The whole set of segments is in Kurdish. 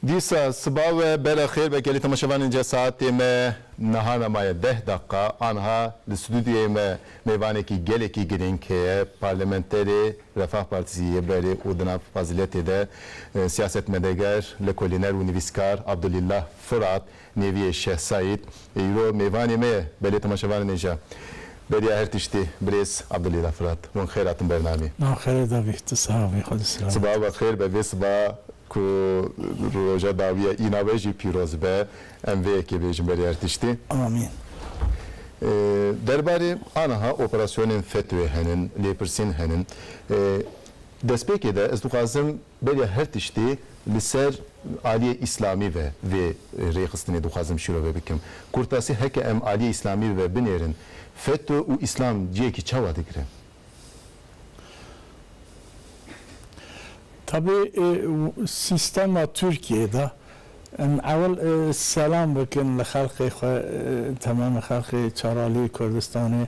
Dîsa siba we bela xêr be gelê temaşevanên cih saetê me nihana maye deh deqiqa anha li stûdyoyê me mêvanekî gelekî girîng heye parlamenterê Refah Partisî yê berê û di nav faziletê de siyasetmedeger, lekolîner û nivîskar Abdulîllah Firat Neviyê Şeh Saîd, Îro mêvanê me ye, belê temaşevanên ê je. Beriya her tiştî birêz Abdulî re firat. Wan xêr hatin ber namî. Nav xêrê dabî, tu siha bî, xwedî siha bî. Sibav be xêr be, vê siba ku roja dawî ye îna we jî pîroz be. Em vê yekê bêjin berê her tiştî. Amîn. Derbarê aniha operasyonên FETÖ'yê hene lêpirsîn hene. Destpêkê de ez dixwazim Beriya her tiştê li ser aliyê îslamî ve vê rêxistinê dixwazim şîrove bikim. Kurtasî heke em aliyê îslamî ve binêrin, FETÖ û îslam cihekî çawa digirin? Tabi sîstema Tirkiyeyê de em ewil selam bikin li xelkê xwe, temamê xelkê Çaraliyê Kurdistanê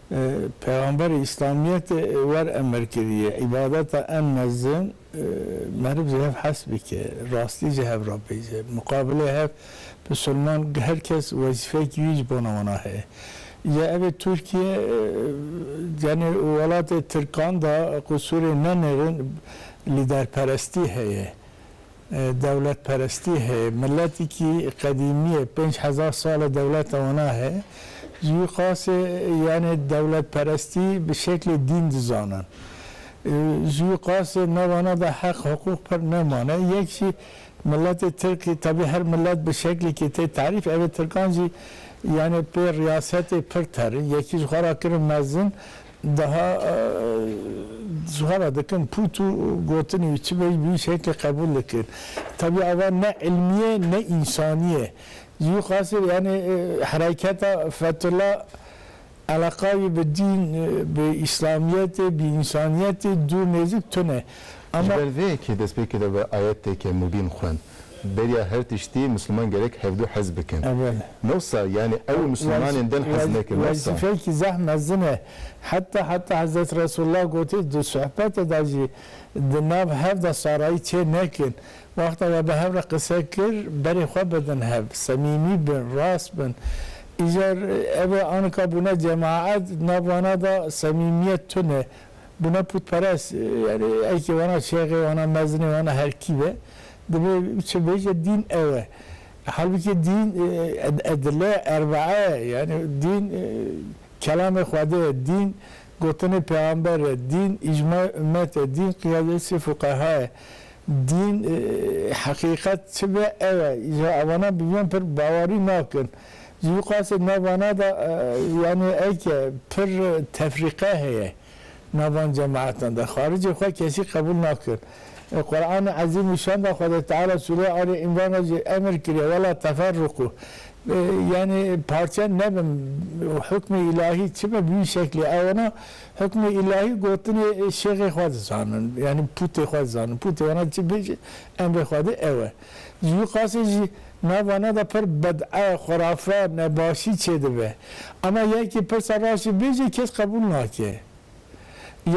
Pêxamberê Îslamiyetê wer emir kiriye, Îbadeta en mezin meriv ji hev hes bike, rastî ji hev rapêje. Muqabilê hev Musulman her kes wezîfeyekî wî ji bona wan a heye. Îja ev ê Tirkiye tenê welatê Tirkan da qusûrên ne nêrin lîderperestî heye. Dewletperestî heye. Miletekî qedîmî ye. Pênc hezar sal e dewleta wana heye. Ji wî qasê yanê dewletperestî bi şeklê dîn dizanin. Ji wî qasê nav wana de heq hiqûq pir nemane. Yek jî miletê tirkî tevî her milet bi şeklekê tê tarîf. Ev ê tirkan jî yanê pê riyasetê pir terin. Yekî ji xwe ra kirin mezin Daha suala dikim pût û gotinê wî çi bêj bi wî şekê qebûl dikin. Tevî ava ne îlmî ye ne însanî ye. Ji wî qasîr yanî hereketa Fethullah eleqa wî bi dîn, bi îslamîyetê, bi însanîyetê dûr nêzik tune. Ji ber vê yekê destpêkê de bi ayetêke mubîn xwend. beriya her tiştî Misliman gerek hevdu hez bikin. Newsa yanî ew û Mislimanên din hez nekin. Newsa. Wezîfeyekî zeh mezin e. Heta heta Hezret Resulullah gotî di suhbete de jî di nav hev de sarayî çê nekin. Wexta we bi hev re qise kir berê xwe bidin hev. Semîmî bin, rast bin. Îcar ev e anika bûne cemaet nav wana de semîmiyet tune. bûne pûtperest, yanî ekê wana şêxê, wana mezinê, wana her kî be, divê biçe bêje dîn ew e. Halbikî dîn edile erbaa ye, yanî dîn kelamê Xwedê ye, dîn gotinê pêxamber e, dîn îcmayê ummet e, dîn qiyadesê fuqeha ye, dîn heqîqet çi be ew e. Îcar avanan bi vîyan pir bawerî nakin. Ji vî qasê navana de yanî eke pir tefrîqe heye navan cemaetan de. Xaricê xwe kesî qebûl nakin. Li Quranê Ezîm û Şan de Xwedê Teala sûreyê Alî Îmran de jî emir kiriye, Wela teferrûkû. Yanî parçe nebin. Hukmê Îlahî çi be bi vî şeklê ew wana hukmê Îlahî gotinê şêxê xwe dizanin. Yanî pûtê xwe dizanin. Pûtê wana çi bêje emrê Xwedê ew e. Ji wî qasî jî navana de pir bid'e, xurafe, nebaşî çêdibe. Ema yekî pirsa raştî bêje kes qebûl nake.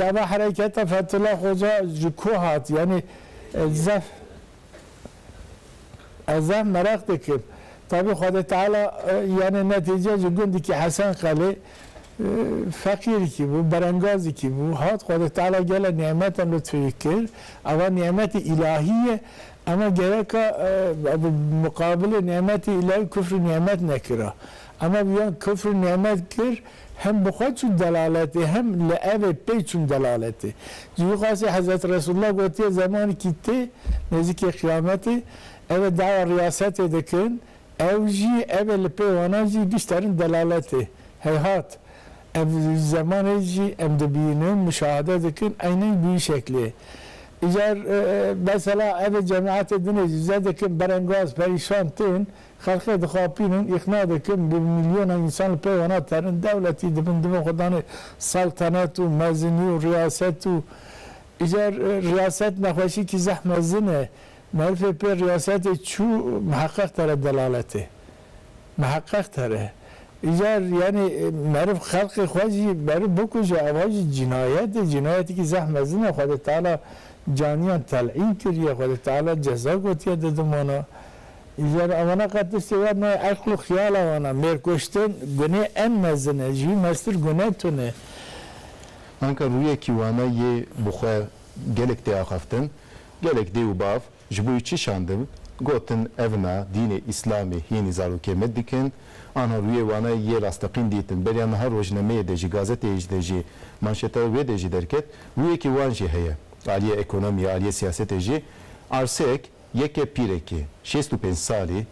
Ya ve hereketa Fethullah Xoca ji ku hat? Yanî ez zehf ez zehf meraq dikim. Tevî Xwedê Teala yanî netîce ji gundikî Hesen Qelê feqîrikî bû, berengazikî bû, hat Xwedê Teala gele nî'metan lutfê wî kir. Eva nî'metê îlahî ye. Ema gereka bi miqabilê nemetê îlayî kufrê nemet nekira. Ema wiyan kufrê nemet kir, hem bi xwe çûn delaletê hem li ev ê pê çûn delaletê. Ji wî qasî Hezretî Resûlullah gotiye zemanekî tê nêzîkê qiyametê ev ê dawa riyasetê dikin, ew jî ev ê li pê wana jî bîsterin delaletê. Heyhat! Ev zemanê jî em dibînin, muşahede dikin eynîn bi wî şeklê. Îcar mesela ev cemaetê dinê jî zedikin, berengaz, perîşan tên, xelqê dixapînin, îqna dikin, bi milyonan însan li pey wana terin, dewletî dibin, divin xwe danê seltenet û mezinî û riyaset û îcar riyaset nexweşîkî zeh mezin e. Merifê pê riyasetê çû miheqeq tere delaletê. Miheqeq tere. Îcar yanî meriv xelqê xwe jî meriv bikuje ava jî cînayet e, cînayetekî zeh mezin e. Xwedê Teala caniyan telîn kiriye, Xwedê Teala ceza gotiye di dimana. Îcar ewana qet tiştê wan nayê eql û xiyala wan a. Mêrkuştin gunê en mezin e, ji wî meztir gune tun e. Anka rûyekî wana yê bi xwe gelek tê axaftin, gelek dê û bav, Ji bo çi şandim? Gotin, Ev na, dînê Îslamê hînî zarokê me dikin. Anha rûyê wana yê rasteqîn dîtin. Beriya niha rojnameyê de jî, gazeteyê de jî, manşeta wê de jî derket. Rûyekî wan jî heye. Aliyê ekonomiyê, aliyê siyasetê jî. Arsek, yeke pîrekî, şêst û pênc salî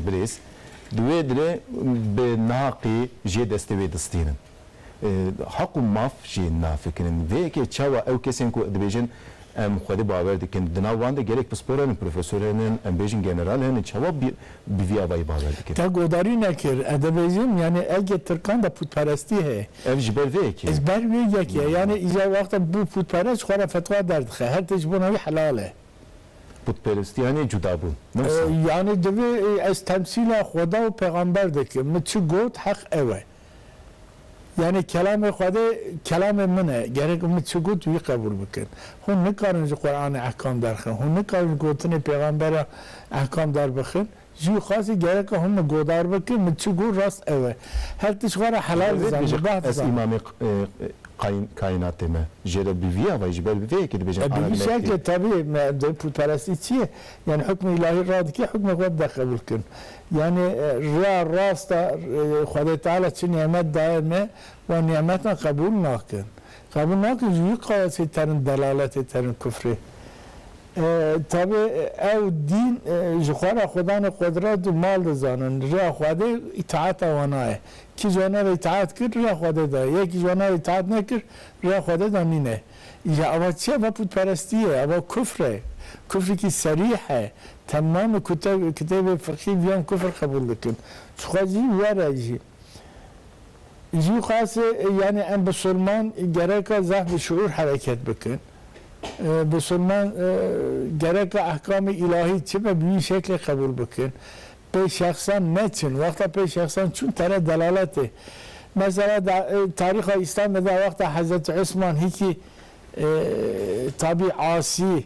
birêz, di wê dirê bi naqî jê destê wê distînin. Heq û maf jê nafikirin. Vê yekê çawa ew kesên ku dibêjin em xwedê bawer dikin, di nav wan de gelek pispor henin, profesor henin, em bêjin general henin, çawa bi vî avayî bawer dikin? Te guhdarî nekir. Ez dibêjim yanî egê tirkan de pûtperestî heye. Ev ji ber vê yekê ye. Ji ber vê yekê ye. Yanî îcar wexta bû pûtperest xwe re fetwa derdixe. Her tişt ji bona wî helal e. Pûtperestî yanî cudabûn. Ne wisa? Yanî divê ez temsîla xweda û pêxamber dikim. Min çi got heq ew e. Yanî kelamê Xwedê kelamê min e, gerek min çi got wî qebûl bikin. Hûn nikarin ji Quranê ehkam derxin, hûn nikarin ji gotinê pêxambera ehkam derbixin. Ji wî xasî gereka hûn min godar bikin, min çi got rast ew e. Her tişt xwe re helal dizanim û baht dizanim. Ez îmamê kaînatê me. Jê re bi vî avayî ji ber bi vê yekê dibêjin Ahmed Mehdi. Bi vî şeklê tebî me putperestî çi ye? Yanî hukmê îlahî radike hukmê xwe bide qebûl kirin. Yanî riya rast a Xwedê Teala çi nîmet daye me, wan nîmetan qebûl nakin. Qebûl nakin ji wî qayasî terin delaletê, terin kufrê. Tevê ew dîn ji xwe re xwe danê qudret û mal dizanin. Riya Xwedê îtaeta wan a ye. Kî ji wan re îtaet kir, riya Xwedê da ye. Yekî ji wan re îtaet nekir, riya Xwedê da nîne. Îja ava çi ye? Ava putperestî ye, ava kufr e. Kufrikî serîh e. Temamê kitêbê fiqhî viyan kufr qebûl dikin. Çixwe jî were jî. Jî qasê yanî em bisulman gereka zaf bi şiûr hereket bikin. Bisulman gereka ehkamê îlahî çi be bi wî şeklê qebûl bikin. pê şexsan neçin, wexta pê şexsan çûn tere delaletê. Mesela da tarîxa Îslamê de wexta Hezretî Osman hîkî tabî asî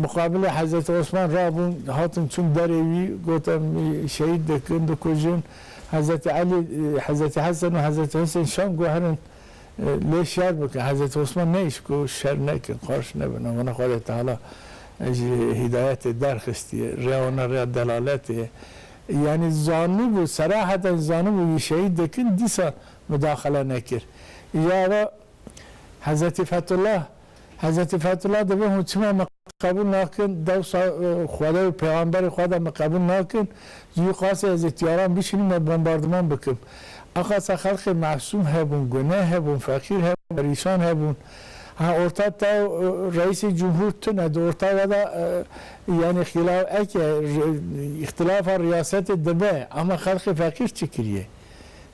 muqabilê Hezretî Osman rabûn hatin çûn derê wî got em şehîd dikin, dikujin. Hezretî Elî, Hezretî Hesen û Hezretî Husên şam guherin. Lê şer bikin. Hezretî Osman neyîşt ku şer nekin, qarş nebin. Ev wana Xwedê Teala ji hîdayetê derxistiye. Rêya wan a rêya delaletê ye. Yanî zanibû, seraheten jî zanibû wî şehîd dikin, dîsa mudaxele nekir. Îja ava Hezretî Fethullah Hezretî Fethullah divê hûn çima min qebûl nakin, dewsa Xwedayê û Pêxamberê xwe de min qebûl nakin, ji wî qasê ez ê tîyaran bişînim me bombardiman bikim. A qasa xelkê mesûm hebûn, gune hebûn, feqîr hebûn, perîşan hebûn. Ha orta te û Reîsê Cumhûr tu ne, di orta we de yanî xîlaf eke îxtîlafa riyasetê dibe, ama xelkê feqîr çi kirîyê?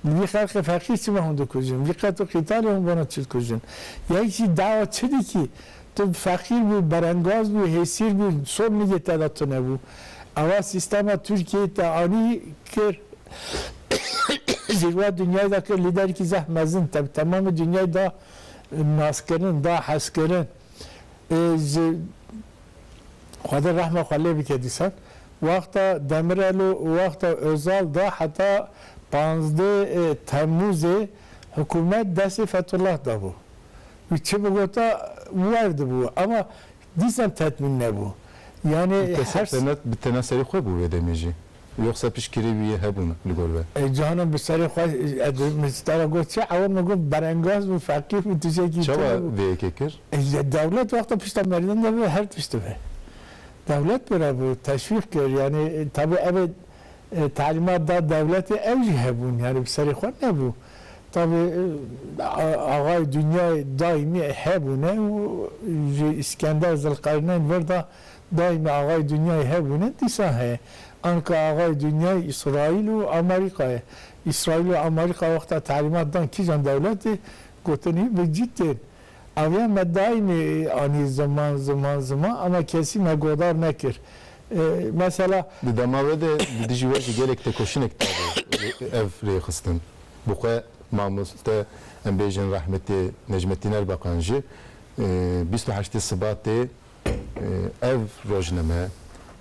Li vî xelqê feqîr çima hûn dikujin? Vî qet û qîtalê hûn bona çi dikujin? Ya yek jî dawa çi dikî? Tu feqîr bû, berengaz bû, hêsîr bû, sol nigê te de tunebû. Ewa sîstema Tirkiyeyê te anî kir zîrwa dinyayê de kir lîderekî zeh mezin. Te bi temamê dinyayê da naskirin, da hezkirin. Ji. Xwedê rehma xwe lê bike dîsan wexta Demirel û wexta Ozal de heta pazdeh ê Temmûzê hikûmet destê Fethullah de bû. Wî çi bigota werdibû ama dîsan tetmîn nebû. Yanî Bi tena serî xwe bû wê demê jî. Yoxsa piştgirî wî yê hebûn li gor be? Cihana bi serê xwe min stara got çi ewa min got berengaz bû, feqîr bû, tişekî tune bû. Çawa vê yekê kir? Dewlet wexta pişta merdan de be her tişt dibe. Dewlet bira bû, teşwîq kir yanî tabî ev ê talîmat da dewletê ew jî hebûn yanî bi serê xwe nebû. Tabî axayê dinyayê daîmî hebûne û ji Îskender Zilqerneyn vir da Daîme axayê dinyayê hebûne dîsa heye. Anka axayê dinyayê Îsraîl û Amerîka ye. Îsraîl û Amerîka wexta telîmat dan kîjan dewletê gotinî bi cî tên. Aviya me daîmê anî ziman ziman ziman ama kesî me godar nekir. Mesela. Di dema we de di dijî we jî gelek tekoşinek dabû ev rêxistin. Bi xwe mamoste em bêjin rehmetê Necmetîn Erbaqan jî bîst û heştê Sibatê Ev rojname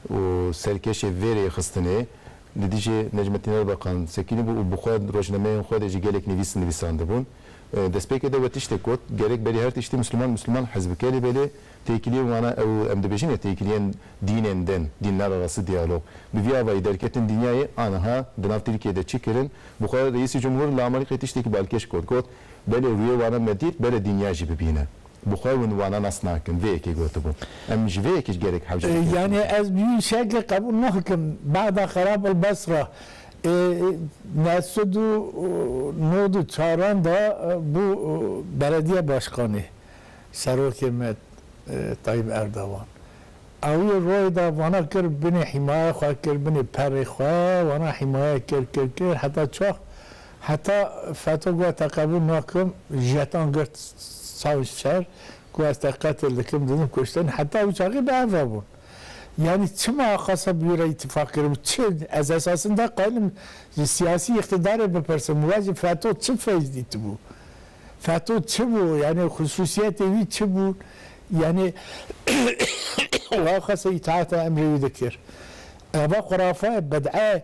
û serkêşê vê rêxistinê li dijî Necmetîn Erbeqan sekînî bû û bi xwe rojnameyên xwe dê ji gelek nivîs nivîsandibûn. Destpêkê de we tiştê got, Gerek berî her tiştî Misliman Misliman hez bike lê belê têkiliyên wan a ew em dibêjin ya têkiliyên dînên din, dînler arastî diyalog. Bi vî avayî derketin dinyayê aniha di nav Tirkiyeyê de çi kirin? Bi xwe Reîsî Cumhur li Amerîkayê tiştekî balkêş got, got, Belê rûyê wan e me dît, bere dinya jî bibîne. Bi xwe win wana nas nakin. Vê yekê gotibû. Em ji vê yekê ji gelek hewce dikên xwe Yani dikin. ez bi wî şekê qebûl nakim. Bexda xerab el Besra ê ne sed û nod û çaran de bû belediye başkanê serokê me Tayyîp Erdogan. Ew yê royê de wana kir binê hîmaye xwe kir binê perê xwe wana hîmaye kir kir kir heta çax. Heta Feto got te qebûl nakim, jetan girt çavên şer, got ez te qetil dikim, didim kuştin, heta ew çaxê bi hev hebûn. Yanî çima axasa bi wî re îtîfaq kiribû? Çi? Ez esasinde xwenirim ji siyasî îqtîdarê bipirsim, we ji Feto çi feyz dîtibû? Feto çi bû? Yanî xusûsiyetên wî çi bûn? Yanî we axasa îtaata emrê wî dikir? Eva xurafe ye, bid'e ye.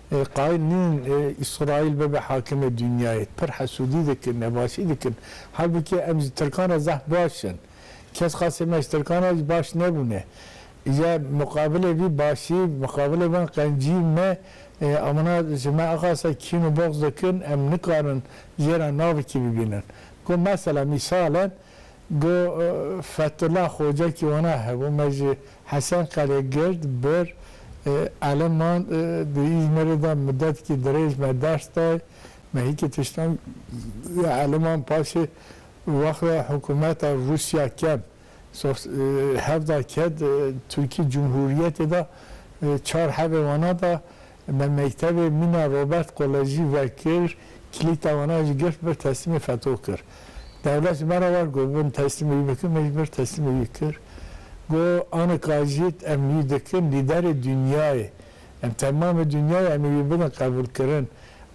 Ê qayîl nîn ê Îsraîl bibe hakimê dinyayê. Pir hesûdî dikin, nebaşî dikin. Halbikê em ji tirkan re zehf baş in. Kes qasê me ji tirkan re jî baş nebûne. Îje muqabilê vî başî, muqabilê van qencîyên me ê amana ji me axase kîn û boxz dikin, em nikarin jê re navekî bibînin. Ku mesela mîsal e. Got, Fethullah Xocekî wana hebû, me ji Hesen Qelê girt bir, eleman di Îzmîrê de midetkî dirêj me ders day, me hîkî tiştan ya eleman paşê wexta hikûmeta Rûsya kem hevda ket Tirkî Cumhûriyetê de çar hebê wana da, Me mektevê mîna Robert Kolejî vekir, kilîta wana jî girt bir teslîmê feto kir. Dewlet ji me re vat got bin teslîmê wî bikin, me jî bir teslîmê wî kir. Got anika jît em wî dikin lîderê dinyayê. Em temamê dinyayê em ê wî bidin qebûlkirin.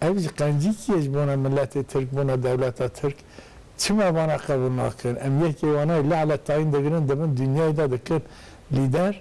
Ev jî qencîkî ye ji bona miletê Tirk, bona dewleta Tirk. Çima wana qebûl nakin? Em yekê wana li Eletayîn digirin di bin dinyayê de dikin lîder.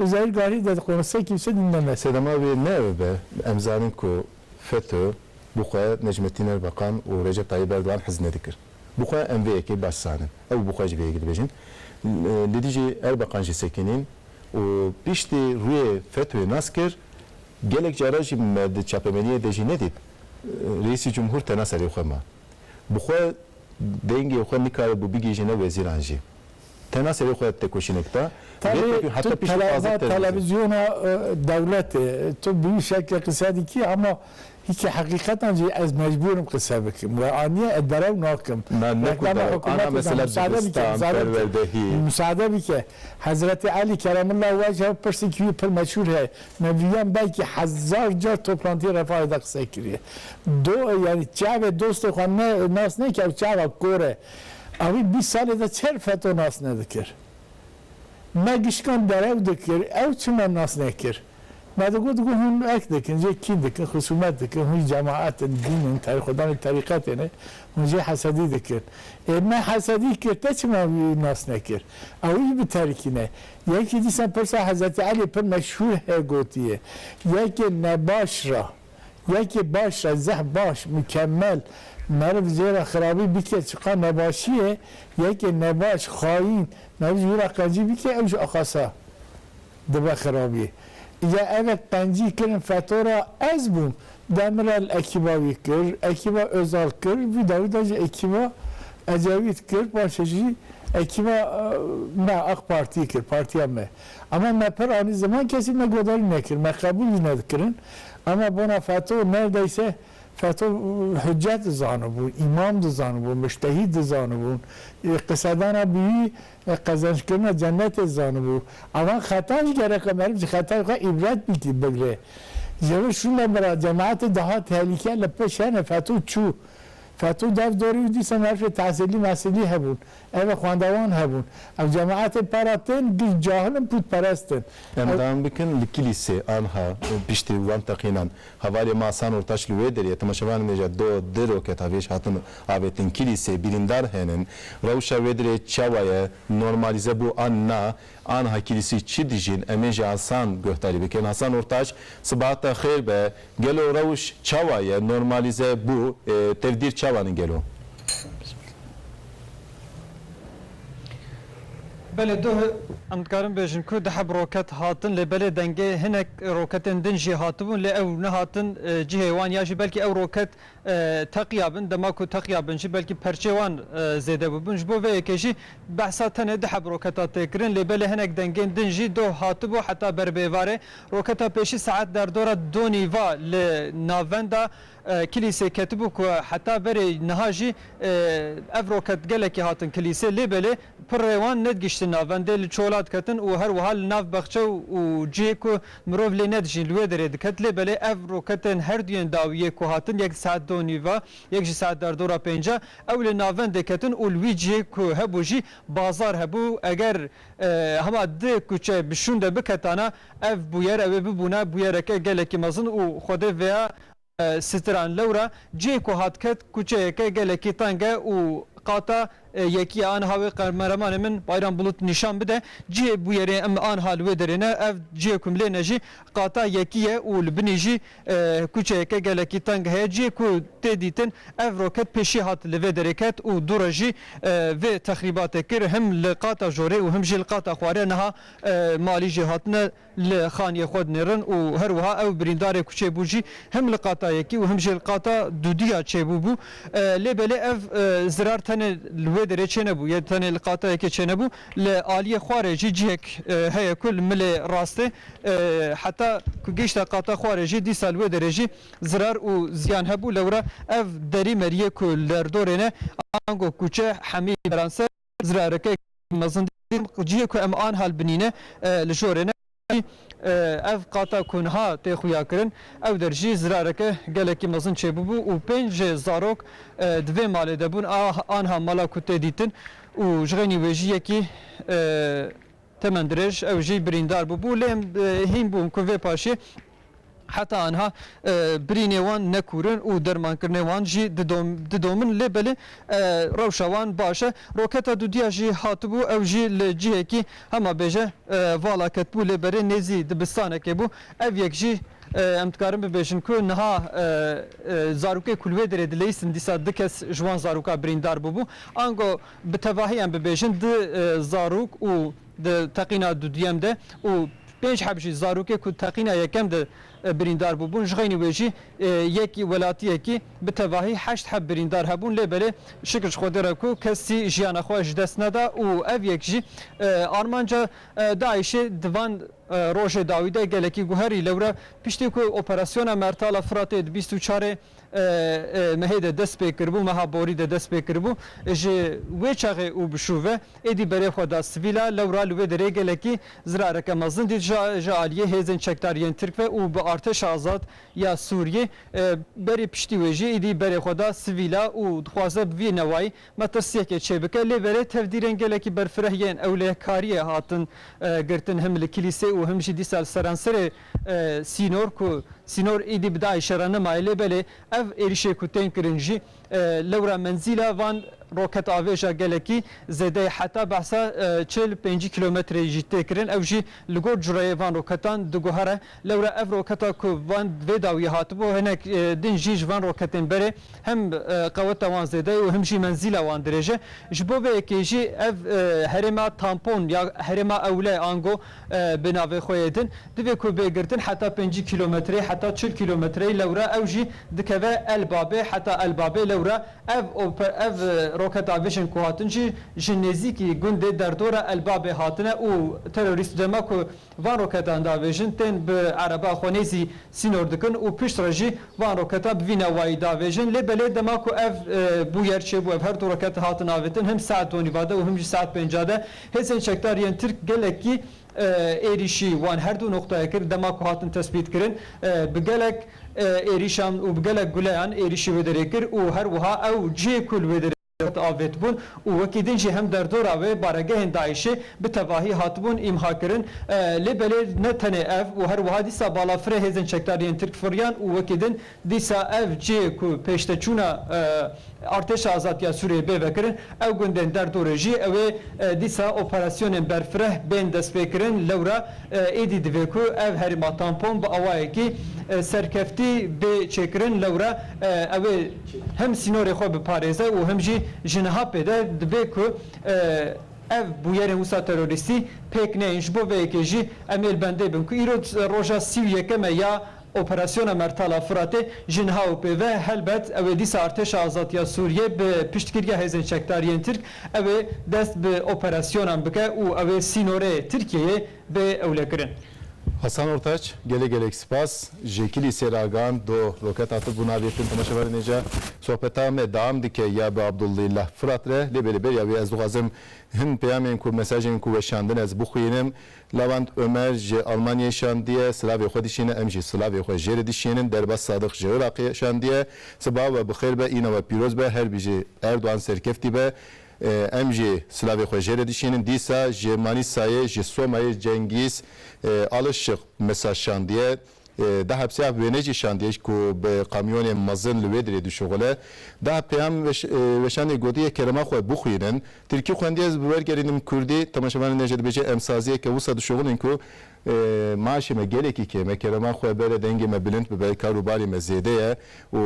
Li Zahîr Garî de di konusê kimse dûna me. Sedema wê ne ev be, em zanin ku FETÖ bi xwe Necmettin Erbakan û Recep Tayyîp Erdogan hez nedikir. Bi xwe em vê yekê baş zanin. Ew bi xwe ji vê yekê dibêjin. Li dijî Erbakan jî sekinîn û piştî rûyê FETÖ'yê nas kir. Gelek caran jî me di çapemeniyê de jî nedît Reîsî Cumhur tena serê xwe ma. Bi xwe dengê xwe nikare bû bigihîjîne wezîran jî. Tena serê xwe têkoşînek da. Tevî tu televa televizyona dewletê tu bi wî şekilê qise dikî ama hîkî heqîqetan jî ez mecbûr im qise bikim we anîye ez derew nakim. Na ne ku derew ana mesela dibistan, perwerdehî. Musade bike Hezretê Elî keremullah wejhe pirsîkî wî pir meşhûr heye me vîyan belkî hezar car toplantîyê Refahê de qise kirîye. Do yanî çavê dostê xwe nas neke ew çava kor e. A wî bîst salê de çer feto nas nedikir. Me gişkan derew dikir, ew çima nas nekir? Me digot got hûn erk dikin, jê kîn dikin, xusûmet dikin, hûn jî cemaet in, dîn in, xwedan ên terîqetê ne, hûn jê hesedî dikin. Ê me hesedî kir, te çima wî nas nekir? A wî jî bi terikî ne. Yekî dîsan pirsa Hezretî Elî pir meşhûr heye gotiye, yekê nebaş ra, Yekê baş re zeh baş, mukemel, meriv zêra xirabî bike çiqa nebaşî ye, yekê nebaş, xayîn, meriv ji wî re qencî bike ew ji axasa dibe xirabî. Îja evek qencî kirin feto re ez bûm. Demirel ekîba wî kir, ekîba Ozal kir, vî dawî de jî ekîba Ecevît kir, paşê jî ekîba me, Aqpartî kir, partiya me. Ema me pir anî ziman kesî me godarî nekir, me qebûl jî nedikirin. Ema bona feto nerdeyse feto huccet dizanibûn, îmam dizanibûn, mujtehîd dizanibûn, qisedana bîyî qezencikirina cennetê dizanibû. Evan xetan jî gereka meriv ji xetayê xwe îbret bîkî bigre. Ji vir şûnde mira cemaetê dihat tehlîke li pişt hene feto çû. Feto dav dorê û dîsa merifê tehsîlî mehsîlî hebûn. Eve xwendevan hebûn. Ev cemaetên para tên giş cahil in, pûtperest in. Em dam bikin li Kilîsê anha piştî wan teqînan. Hevalê me Asan Ortaç li wê derê temaşevanê nêja do, di roket avêj hatin avêtin Kilîsê, birîndar henin. Rewşa wê derê çawa ye? Normalîze bû an na? Aniha kîlîsî çi dijîn em ê ji Asan guhdarî bikin. Hasan Ortaç, Sibehat te xêr be. Gelo rewş çawa ye? Normalize bû. Tevdîr çawan in gelo? Bele doh em dikarin bêjin ku diheb roket hatin lê belê dengê hinek roketên din jî hatibûn lê ew nehatin cihê wan ya jî belkî ew roket teqiya bin, dema ku teqiya bin jî belkî perçê wan zêde bûbin. Ji bo vê yekê jî behsa tenê du heb roketa tê kirin lê belê hinek dengên din jî doh hatibû heta ber bi êvarê. Roketa pêşî saet derdora du nîva li navenda Kilîsê ketibû ku heta verê niha jî ev roket gelekî hatin Kilîsê lê belê pirrê wan nedgîştin navendê li çola diketin û her wiha li nav bexçe û cihê ku Mirov lê nedijîn li wê derê diket lê belê ev roketên herduyên dawî yê ku hatin yek di saet du û nîv ve yek jî saet derdor a pêncî ew lê navendê ketin û li wî cihê ku hebû jî bazar hebû eger hema di kuçe bi şûnde biketane ev bûyer ew ê bibûne bûyereke gelekî mezin û xwedê vêya Sitiran lewra cihê ku hat ket kuçeyeke gelekî teng e û qata yekî ye. Aniha wê qemeramanê min Bayram Bulut nîşan bide. Cihê bûyerê em aniha li wê derê ne. Ev cihê ku em lê ne jî qata yekî ye û li binî jî kuçeyeke gelekî teng heye. Cihê ku tê dîtin ev roket pêşî hat li vê derê ket û dû re jî vê texrîbatê kir. Him li qata jorê û him jî li qata xwarê niha malî jê hatine li xaniyê xwe dinêrin û her wiha ew birîndarê ku çêbû jî him li qata yekî û him jî li qata dûdî ya çêbû bû. Lê belê ev zirar tenê li wê derê çênebû yê tenê li qata yekê çênebû li aliyê xwarê jî cihek heye ku li milê rastê heta ku gihişte qata xwarê jî dîsa li wê derê jî zirar û ziyan hebû lewra ev derî meriyê ku li derdorê ne ango kûçe hemî beran ser zirarekek mezin dît û cihê ku em an hal binîne li jorê ne. Jî ev qata ku niha tê xuyakirin ew der jî zirareke gelekî mezin çêbûbû û pênc zarok di vê malê de bûn a anha mala ku tê dîtin û ji xênî wê jî yekî temendirêj ew jî birîndar bûbû lê em hîn bûn ku vê paşê Heta anha birînê wan ne kûr in û dermankirinê wan jî didomin lê belê rewşa wan baş e. Roketa dûdîya jî hatibû ew jî li cihekî hema bêje vala ketibû lê berê nêzî dibistanekê bû. Ev yek jî em dikarin bibêjin ku niha zarokê ku li wê derê dileyîstin dîsa du kes ji wan zaroka birîndar bûbû. Ango bi tevahî em bibêjin du zarok û Di teqîna duduyem de û pênc heb jî zarokê ku teqîna yekem de birîndar bûbûn ji xeynî wê jî yek welatiyekî bi tevahî heşt heb birîndar hebûn lê belê şikir ji Xwedê re ku kesî jiyana xwe ji dest neda û ev yek jî armanca DAIŞ'ê di van rojê dawî de gelekî guherî. Lewra piştî ku operasyona Mertala Firatê di bîst û çarê mehê de dest pê kiribû, meha borî de dest pê kiribû, ji wê çaxê û bi şûve êdî berê xwe da sivîla lewra li wê derê gelekî zirareke mezin dît ji aliyê hêzên çekdar yên Tirk ve û bi Artêşa Azad ya Sûriyê berî piştî wê jî êdî berê xwe da sivîla û dixwaze bi vî newayî metirsiyekê çê bike lê berê tevdîrên gelekî berfireh yên ewlekariyê hatin girtin him li kilîsê û him jî dîsa li seranserê Sînor ku sînor êdî bi DAIŞ'ê re nemaye lê belê ev êrîşê ku tên kirin jî lewra menzîla van roketavêja gelekî zêde ye heta behsa çil û pêncî kîlometreyê jî tê kirin ew jî li gor cureyê van roketan diguhere lewra ev roketa ku van vê dawiyê hatibû hinek din jî ji van roketên berê him qeweta wan zêde ye û him jî menzîla wan dirêj e ji bo vê yekê jî ev herêma tampon ya herêma ewle ango Bi navê xwe yê din divê ku bê girtin heta pêncî kîlometreyê heta çil kîlometreyê lewra ew jî dikeve El Babê heta El Babê lewra ev ev roketa vijin ku hatin jî ji nêzîkî gundê derdora El Babê hatine û terorîst dema ku van roketan davêjin tên bi ereba xwe nêzî sînor dikin û pişt re jî van roketan bi vî newayî davêjin lê belê dema ku ev bûyer çêbû ev her du roket hatin avêtin him saet donî vade û him jî saet pênca de Hêzên çekdar yên Tirk gelekî êrîşî wan her du noqtayê kir, dema ku hatin tespîtkirin bi gelek êrîşan û bi gelek guleyan êrîşî wê derê kir û her wiha ew cihê ku li wê derê hat avêtibûn û wekî din jî hem derdora wê baregehên DAIŞ'ê bi tevahî hatibûn îmhakirin. Lê belê ne tenê ev û her wiha dîsa balafirê hêzên çekdar yên Tirk firiyan û wekî din Dîsa ev cihê ku pêşteçûna Artêşa Azad ya Sûriyeyê bê vekirin, ew gundên der dorê jî ew ê dîsa operasyonên berfireh bên destpêkirin. Lewra êdî divê ku ev herêma tampon bi awayekî serkeftî bê çêkirin. Lewra ew ê him sînorê xwe biparêze û him jî ji niha pê de divê ku ev bûyerên wisa terorîstî pêk neyên. Ji bo vê yekê jî em ê li bendê bin ku îro roja sî û yekem e ya Operasyona Mertala Firatê ji niha û pê ve helbet ew ê dîsa Artêşa Azadiya Sûriyê bi piştgiriya hêzên çekdariyên Tirk ew ê dest bi operasyonan bike û ew ê sînorê Tirkiyeyê bê ewlekirin. Hasan Ortaç, gelê gelek spas. Ji Kilîsê re agand do roketa tu bûna vê tim temaşevarê nêce. Sohbeta me deam dike ya bi Abdullilah Firat re lê bê li beriya wê ez dixwazim hin peyamên ku mesajên ku weşandin ez bixwînim Lewend Omer ji Almanyayê şandiye, silavê xwe dişîne, em jî silavê xwe jê re dişînin, Derbas Sadiq ji Iraqê şandiye, siba we bi xêr be, îna we pîroz be, her bijî Erdogan serkeftî be, em jî silavê xwe jê re dişînin, dîsa ji Manîsayê, ji Somayê Cengîz Alişiq Misa şandiye, Di hepsîya bi wêneyê jî şandiyêj ku bi kamyonên mezin li wê dirê dişuxile. Di peyam weşandê gotiye kelema xwe bixwînin. Tirkî xwendiye ez bi wer gerînim kurdî. Temaşevanê nê jî dibêje em saziyeke wisa dişuxilin ku maaşê me gelekî kêm e, kelema xwe bere, dengê me bilind bibe, kar û barê me zêde ye û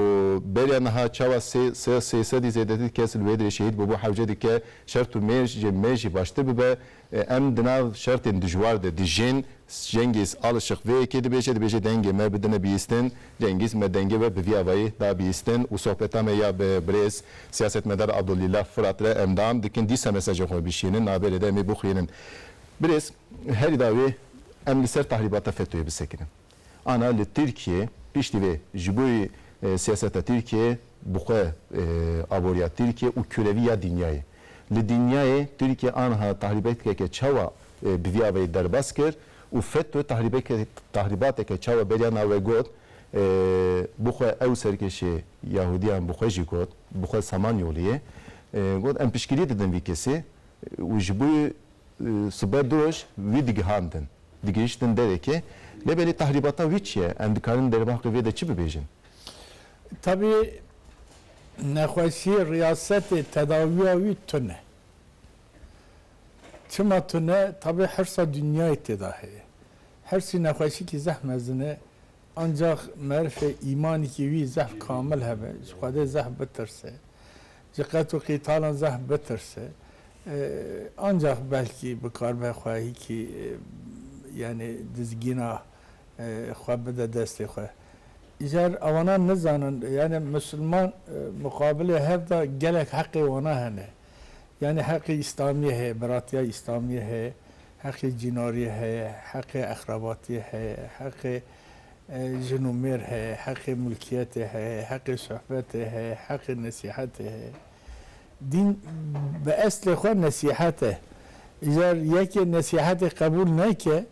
beriya niha çawa sê sedî zêdetir kes li wê dirê şehîd bûbû hewce dike şert û mêj jê me jî baştir bibe. Em di nav şertên dijwar de dijîn. Cengîz Alişiq vê yekê dibêje, dibêje dengê me bidine bîstin. Cengîz me dengê we bi vî avayî da bîstin û sohbeta me ya bi birêz siyasetmedar Abdulîlah Firat re endam dikin. Dîsa mesajên xwe bişînin navberê de em ê bixwînin. Birêz, herî dawî em li ser tahrîbata FETÖ'yê bisekinin. Ana li Tirkiyê piştî vê ji bo siyaseta Tirkiyê bi xwe aboriya Tirkiyê û kurevî ya dinyayê. Li dinyayê Tirkiye anha tahrîbekeke çawa bi vî avayî derbas kir û FETÖ tahrîbateke çawa beriya nawe got bi xwe ew serkêşê Yahudiyan bi xwe jî got bi xwe saman yoliyê got em piştgirî didin vî kesî û ji bo Sibe doj wî digihandin. Digihiştin derekê. Lê belê tahrîbata wî çi ye? Em dikarin dervahqê vê de çi bibêjin? Tevî nexweşiyê riyasetê tedawiya wî tune. Çima tune? Tevî hirsa dinyayê têda heye. Hirsî nexweşikî zehf mezin e. Ancax merifê îmanîkî wî zehf kamil hebe. Ji Xwedê zehf bitirse. Ji qet û qîtalan zehf bitirse, ancax belkî bikarbe xwe hîkî yanê dizgîna xwe bide destê xwe. Îcar ewanan nizanin yanê misilman muqabilê hev da gelek heqê wana hene. Yanê heqê îslamiyê heye, biratiya îslamiyê heye, heqê cînariyê heye, heqê exrabatiyê heye, heqê Jin û mêr heye, heqê milkiyetê heye, heqê sohbetê heye, heqê nesîhetê heye. Dîn bi eslê xwe nesîhet e. Îcar yekê nesîhetê qebûl neke,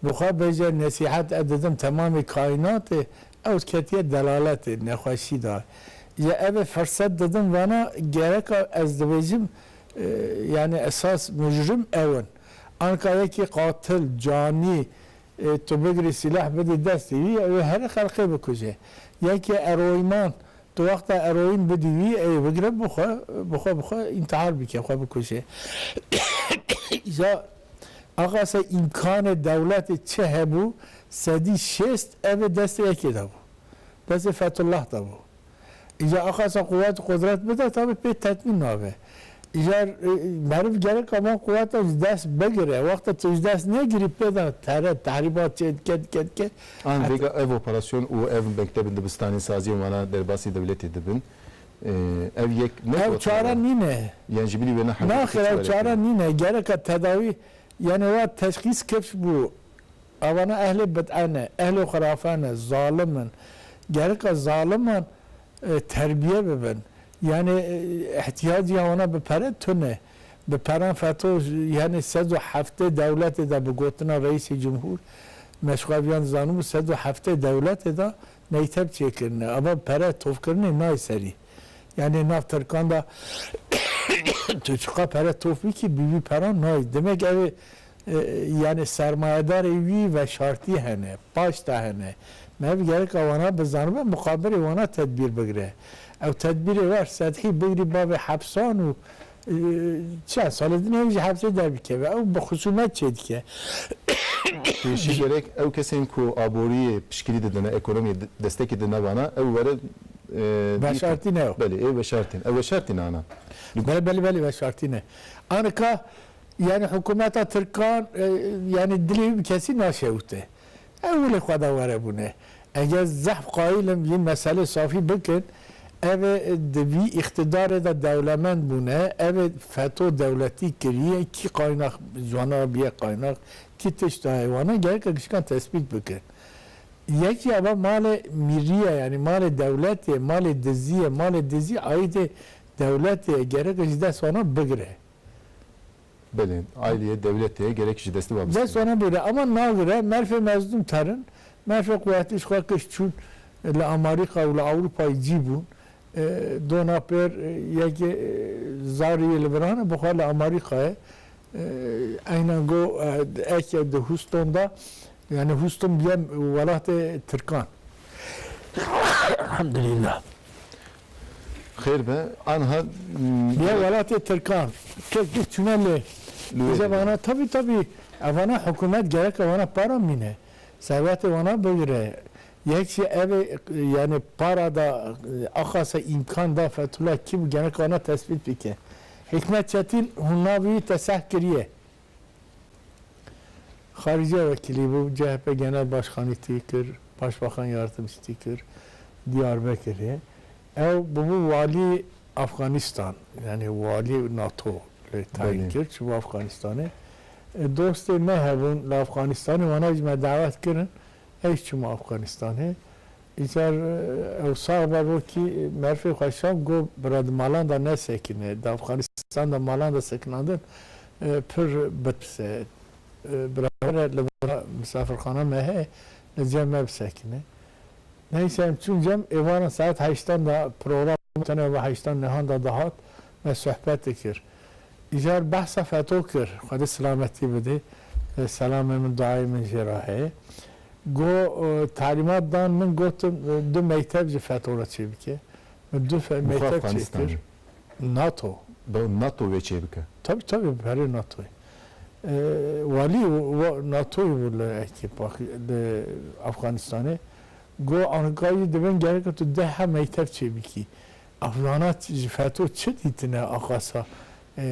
bixwe bêje nesîhet ez didim temamê kaînatê, ew ketiye delaletê, nexweşî da. Îcar ev ê firset didim vana gereka ez dibêjim yanî esas mujrim ew in. Anka yekê qatil, canî, Tu bigirî sîlah bidî destê wî ew ê herî xelqê bikuje. Yekê eroînan di wexta eroîn bidî wî ew ê bigire bi xwe bi xwe bi xwe întihar bike xwe bikuje. Îja axa se îmkanê dewletê çi hebû sedî şêst ev ê destê yekê de bû. Destê Fethullah de bû. Îcar axafta quwet, qudret bide tabî pê tetmîn nabe. Îcar meriv gereka van quwetan ji dest bigire. Wexta tu ji dest negirî pê de tere, tehrîbat çê dike, dike, dike. An vêga ev operasyon û ev mektebên dibistanêsaziyên wan a derbasî dewletê dibin. Ev yek ne Ew çare nîne. Yan jî bilî wêne hewce dike Naxir, çi ew were çare kirin? nîne. Gereka tedawî Yanî wa teşxîs kifs bû, Avana ehlê bid'e ne, ehlê xurafe ne, zalim in. Geriqa zaliman terbiye bibin, yanî îhtîyacîya wana bi pere tune, bi peran feto yanî sed û heftê dewletê de bi gotina Reîsê Cumhur, meşxaviyan dizanibû sed û heftê dewletê de meyteb çêkirine, ava pere tovkirinê nayê serî. Yanê nav Tirkan de tu çiqa pere tof bikî bi vî peran nayî. Demek ev ê yanê sermayedarê wî veşartî hene, paşta hene. Me ev gerek a wana bizanibe muqabilê wana tedbîr bigire. Ew tedbîrê wer sedhî bigrî bavê hepsan û Çend sal e dinya wî ji hevsê derbikeve. Ew bi xusûmet çê dike. Pêşî gerek ew kesên ku aboriyê pişkirî didin e, ekonomiyê destekê didin vana, ew were dîtin. Veşartî ne ew. Belê, ê veşartî ne. Ew veşartî ne ana. Belê, belê, belê veşartî ne. Ana ka yanî hikûmeta tirkan yanî dilê wî bi kesî naşewite. Ew li xwe de were bûne. Eger zehf qayîl im vî meselê safî bikin, ev ê di vî îqtîdarê de dewlemend bûne, ev ê feto dewletî kiriye, kî qaynax ziwana biye qaynax, kî tişt daye wana gereka gişkan tespît bikin. Yekî ava malê mîrî ye yanî malê dewletê ye, malê dizî ye, malê dizî aîdê dewletê ye, gereka ji dest wana bigire. Belê, ailîyê, dewletê ye gerek ji destê we bistîne. Dest wana bûre ama nagire merfê mezdûm terin. Merfê quwetî ji xwe kişt çûn li Amarîka û li Ewrûpayê cî bûn. Dona pêr yekê zarî yê li virane bi xwe li Amarîkayê eynan got eke di Hûston de yanî Hûston bîye welatê tirkan. Elhamdulîllah. Xêr be anha. Ya welatê tirkan tirk bî tune lê dije vana tabî tabî ev vana hikûmet gereke wana para mîne servetê wana bigire yek jî ev ê yanî para da axase îmkan da Fethullah kî bû gereke wana tespît bike hîkmet çetîn hûn navî wî te seh kiriye. Xarice wekîlî bû, chp genel başxanî tî kir, başbaxan yardimcî tî kir Diyarbekirê. Ew bûbû walî Afganistan yanî walî nato lê tayîn kir çûbû Afganistanê. Dostê me hebûn li Afganistanê wana jî me dawet kirin, ey jî çûn Afganistanê. Îcar ew sax be rokî merfê xwe şand got bira di malan de nesekine. Di Afxanistan de malan de sekinandin pir berpirs e. Bira were li vira misafirxana me heye li cem me bisekine. Neyse em çûn cem êvaran saet heştan de program tune va heştan nihan de dihat me sohbet dikir. Îcar behsa feto kir xwedê silametî bidê. Selamê min duayê min jê re heye. Got, Talîmat dan min gotin du mektev ji FETO re çê bike. Min du mektev çê kir. NATO. Do NATO wê çê bike? Tabî tabî bi perê NATO'yê. Walî NATO'yê bû li li Afxanistanê. Got, Ankayî di bin gereka tu deha mektev çê bikî. Afxanan ji FETO çi dîtine axasa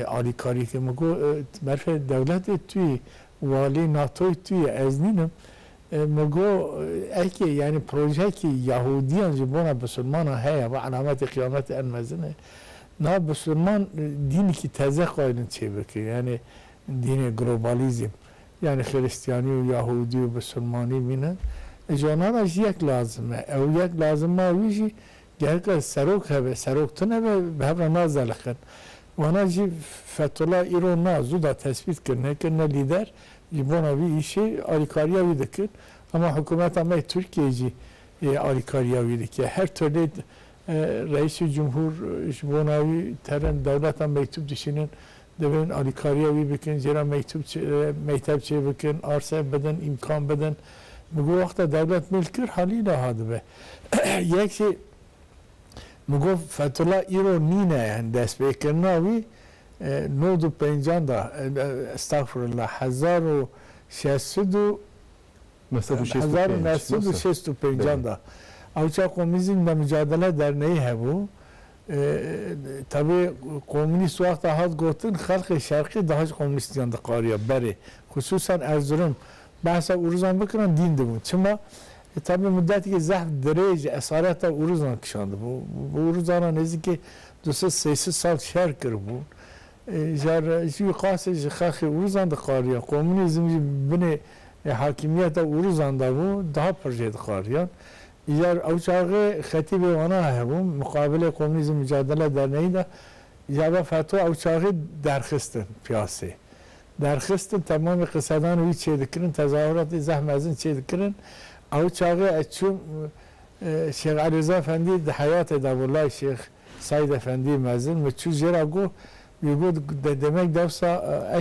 Alîkarî tê min got, berfê dewletê tu yî, walê NATOyê tu yî, ez nînim. Min got, ekê yanî projeyekî Yahûdiyan ji bona Bisilmanan heye, va elametê qiyametê en mezin e. Niha Bisilman dînekî teze xwedin çêbikin, yanî dînê globalîzm. Yanî Xiristiyanî û Yahûdî û Bisilmanî bînin. Ji wan re jî yek lazim e. Ew yek lazim ma wî jî Diheka serok hebe, serok tune be bi hev re nazaliqin. Wana jî Fethullah îro na zû da tesbît kirine ke ne lîder ji bona vî îşê alîkariya wî dikin. Hema hikûmeta me yê Tirkiyeyê jî alîkariya wî dike. Her tolê Reîsûlcumhûr ji bona wî teren dewleta meytûb dişînin Divin alîkariya wî bikin, jê re mektup çê mekteb çê bikin, arse bidin, îmkan bidin. Min got wexta dewlet mêl kir halî niha dibe. Yek jê min got Fethullah îro nîne yani destpêkirina wî nod û pencan da estağfurullah hezar û şeş sed û Di hezar û neh sed û şêst û pênc an de Awça Komîzîn me Micadele Derneyî hebû. Tevî komînîst wexta hat gotin xelkê şerqî dahij komînîstiyan diqariya berê xisûsan Erzurum behsa Uruzan bikirin dîn dibûn. Çima? Tevî mudetikê zehf dirêj esareta Uruzan kişandibû. Bi Uruzanan nêzîkî du sed sey sed sal şer kiribûn. Jar jî wî qasê ji xaxê Uruzan dixwariya. Komûnîzm jî bi binê hakîmiyeta Uruzan de bû, daha pir jê dixwariyan. Îcar ew çaxê xetî bê wana hebû, miqabilê komûnîzm micadele derneyîn de îcar ve fetwa ew çaxê derxistin piyasê. Derxistin temamê qisedan wî çê dikirin, tezahuratê zeh mezin çê dikirin. Ew çaxê ez çûm Şêx Elîrza Efendî di heyatê de bû lay Şêx Seîd Efendî mezin min çû jê re got, wî got demek dewsa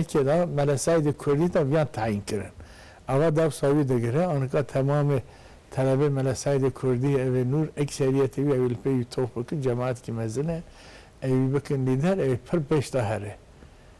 ekê de Mele Seîdê Kurdî te viyan tayîn kirin. Ava dewsa wî digire, anika temamê telebê Mele Seîdê Kurdî ew ê nûr ekseriyetê wî ewê li pê wî tof bikin, cemaetkî mezin e, ewî bikin lîder, ewê pir pêş de here.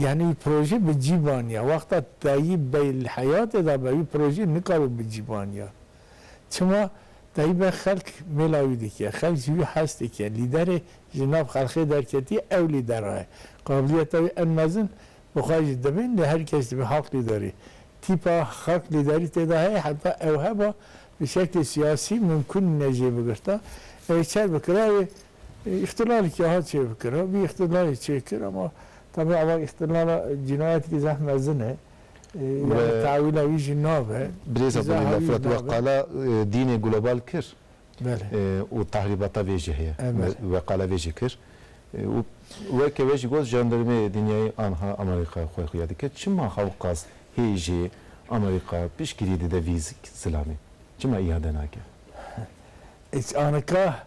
Yanî wî projê bi cî vaniya. Wexta Tayîb Bey li heyatê de be wî projê nikaro bi cî vaniya. Çima? Tayîb Bey xelk mêla wî dike. Xelk ji wî hez dike. Lîderê ji nav xelkê derketiye ew lîdera ye. Qabiliyeta wî en mezin bi xwe jî dibin lê her kes dibe halk lîderî. Tîpa xelk lîderî tê de heye heta ew heba bi şeklê siyasî mimkûn nîne jê bigirta. Ew ê çer bikira wê Îxtîlalekî hat çêbikirin, vî îxtîlalê çêkir ama tabi ava îxtîlala cînayetekî zeh mezin e. Yanî tewîla wî jî nabe. Birêza Bilî la Firat we qala dînê global kir û tehrîbata vê jî heye. We qala vê jî kir û weke we jî got jandarmê dinyayê anha Amerîka xwe xuya dike. Çima hewqas hêjî Amerîka piştgirî dide vî zilamê? Çima îade nake? Anika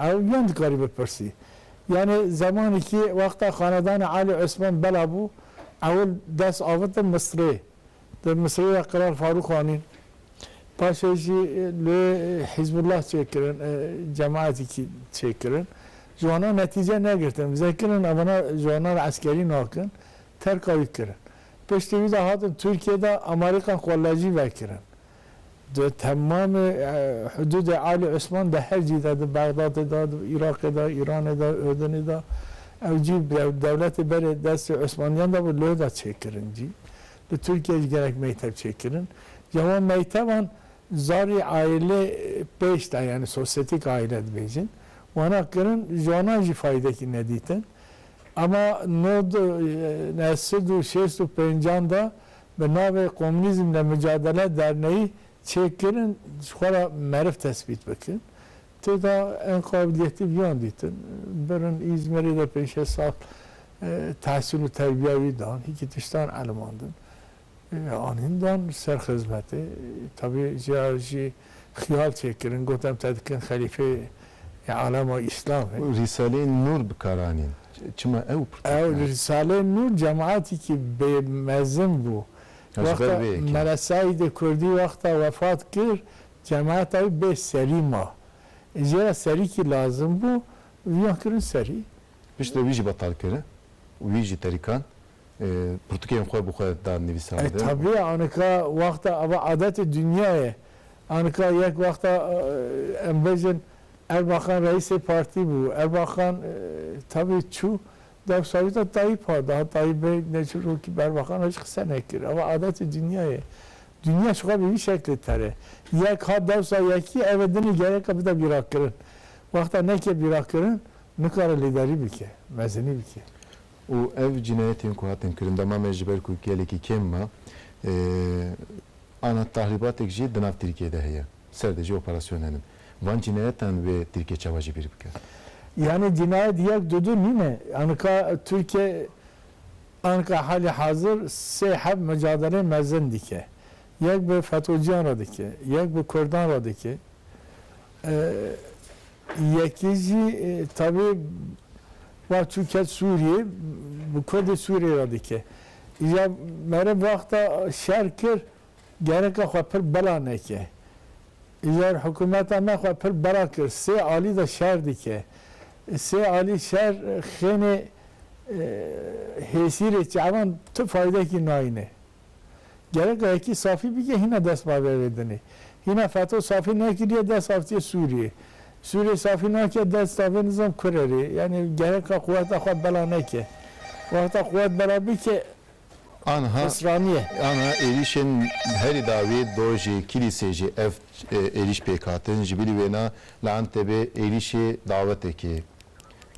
Ew yan dikarî bipirsî. Yanê zemanê kî wexta xanedanê Alî Osman bela bû, ewil dest avite Misrê. Di Misrê de Kral Farûq anîn. Paşê jî li Hîzbullah çêkirin, cemaetê kî çêkirin. Ji wana netîce negirtin. Vizekirinin evana ji wana re eskerî nakin. Terka wî kirin. Piştî wî de hatin Tirkiyê de Amerîkan xwe lejî vekirin. di temamê hudûdê Alî Osman de her cî de, di Bexdadê de, di Iraqê de, Îranê de, Urdinê de, ew cî dewletê berê destê Osmaniyan de bû, li da çêkirin cî. Li Tirkiyeyê jî gelek meyteb çêkirin. Ca wan meyteban zarî aîlê pêş de yanî sosyetik aîle dibêjin, wana kirin, ji wanan jî faydekî nedîtin. Ema nod, nesd û şêst û pêncan de bi navê Komünizm le Mücadele Derneği çêkirin ji xwe re meriv tesbît bikin. Tê de en qabiliyetî viyan dîtin. Birin Îzmirê de pênc şeş sal tehsil û terbiya wî dan. Hîkî tiştan elimandin. Anîn dan ser xizmetê. Tabî jê re jî Xiyal çêkirin, got em te dikin xelîfeyê alema Îslamê. Rîsaleyên Nûr bi kar anîn, çima ew pirtûk ne? Ew Rîsaleyên Nûr cemaetîkî bê mezin bû. Wexta Mele Seîdê Kurdî wexta wefat kir, cemaeta wî bê serî ma. Jê re serîkî lazim bû, viyan kirin serî. Piştre wî jî betal kir û wî ji terîkan pirtûkên xwe bi xwe da nivîsandin. E tabî ye anika wexta eva adetê dinya ye. Anika yek wexta em bêjin Erbakan reîsê partî bû. Erbakan tabî çû dewsa wî da Tayyîpa. Daha Tayyîbê ne ji rokî bi Erbakan re jî qise nekir. Eva adetê dinya ye. Dinya ji xwe bi vî şeklê tere. Yek hat dewsa yekî eve dinê gereka bide bîrakirin. Wexta neke bîrakirin, Nikare lêdarî bike, mezinî bike. Û ev cinayetên ku hatin kirin dema me ji ber ku gelekî kêm ma ana tahribatek jî di nav Tirkiyeyê de heye. Ser de jî operasyon hene. Van cinayetan wê Tirkiye çawa jî bîr bike? Yanî cinayet yek du du nîne. Anika Tirkiye anika halê hazir sê heft micadeleyên mezin dike. Yek bi FETO'ciyan re dike, yek bi Kurdan re dike. Yekî jî tevî va çû ket Sûriyê bi Kurdê Sûriyê re dike. Îja mere bi wexta şer kir gereka xwe pir bela neke. Îjar hikûmeta me xwe pir bela kir. Sê alî de şer dike. Sê alî şer xênê hêsîrê çavan tu faydekî nayîne. Gerek e yekî safî bike hîna dest bave vê dinê. Hîna feto safî nekiriye dest avitiye Sûriyê. Sûriyê safî nake dest avê nizam kurerê. Yanî gerek e quweta xwe bela neke. Wexta quwet bela bike Anha pisraniye. Anha êrîşên herî dawî dojê Kîlîsê jî ev êrîş pêk hatin. Ji bilî wêna li Entebê êrîşê dawetekê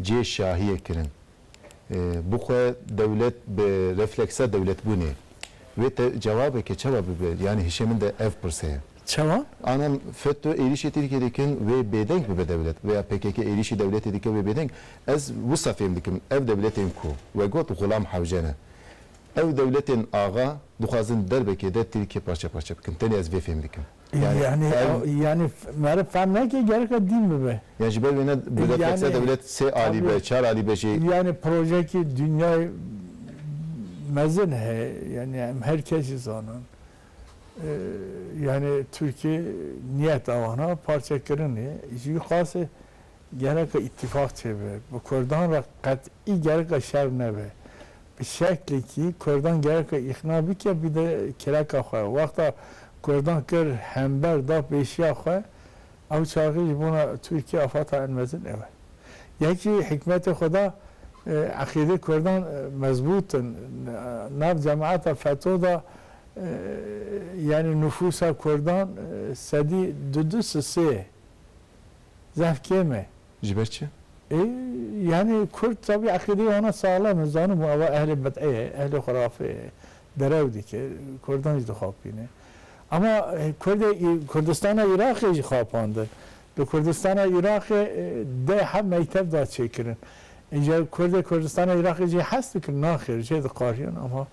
cê şahiyê kirin. bi xwe dewlet bi refleksa dewletbûnê wê te cewabeke çawa bibe yanî hişê min de ev pirse ye. Çawa? Anan FETÖ êrîşê Tirkiyê dikin wê bêdeng bibe dewlet veya pkk êrîşê dewletê dike wê bêdeng ez wisa fêm dikim ev dewletên ku we got Xulam Hewce ne ew dewletên axa dixwazin derbekê de Tirkiye parçe parçe bikin tenê ez vê fêm dikim. Yani ew yani meriv fehm neke gereka dîn bibe. Yani ji ber wê ne dewletek se dewlet sê alî be, çar alî be jî. Yani projeyekî dinyayê mezin heye yani em her kes jî zanin. Yani Tirkiye niyeta wan a parçekirinê jî qasê. Gereka îtîfaq çêbe. Bi kurdan re qet'î gereka şer nebe. Bi şeklekî kurdan gereka îqna bike bide kireka xwe. Wexta kurdan kir hember da pêşiya xwe, ew çaxî ji bona Tirkiye afeta en mezin ew e. Yek jî hikmetê xwe da eqîdê kurdan mezbût in. Nav cemaeta FETÖ da yanî nufûsa kurdan sedî du du si sê ye. Zaf kêm e. Ji ber çi? Ê yanî kurd tevî eqîdeyê wana saxlem e. Zanim û ava ehlê bid'ê ye, ehlê xurafê ye. Derew dike. Kurdan jî dixapîne. Ema kurdê î Kurdistana Îraqê jî xapandin. Li Kurdistana Îraqê deh heft mektev da çêkirin. Îja kurdê Kurdistana Îraqê jê hez dikin? Naxêr jê diqajiyan ema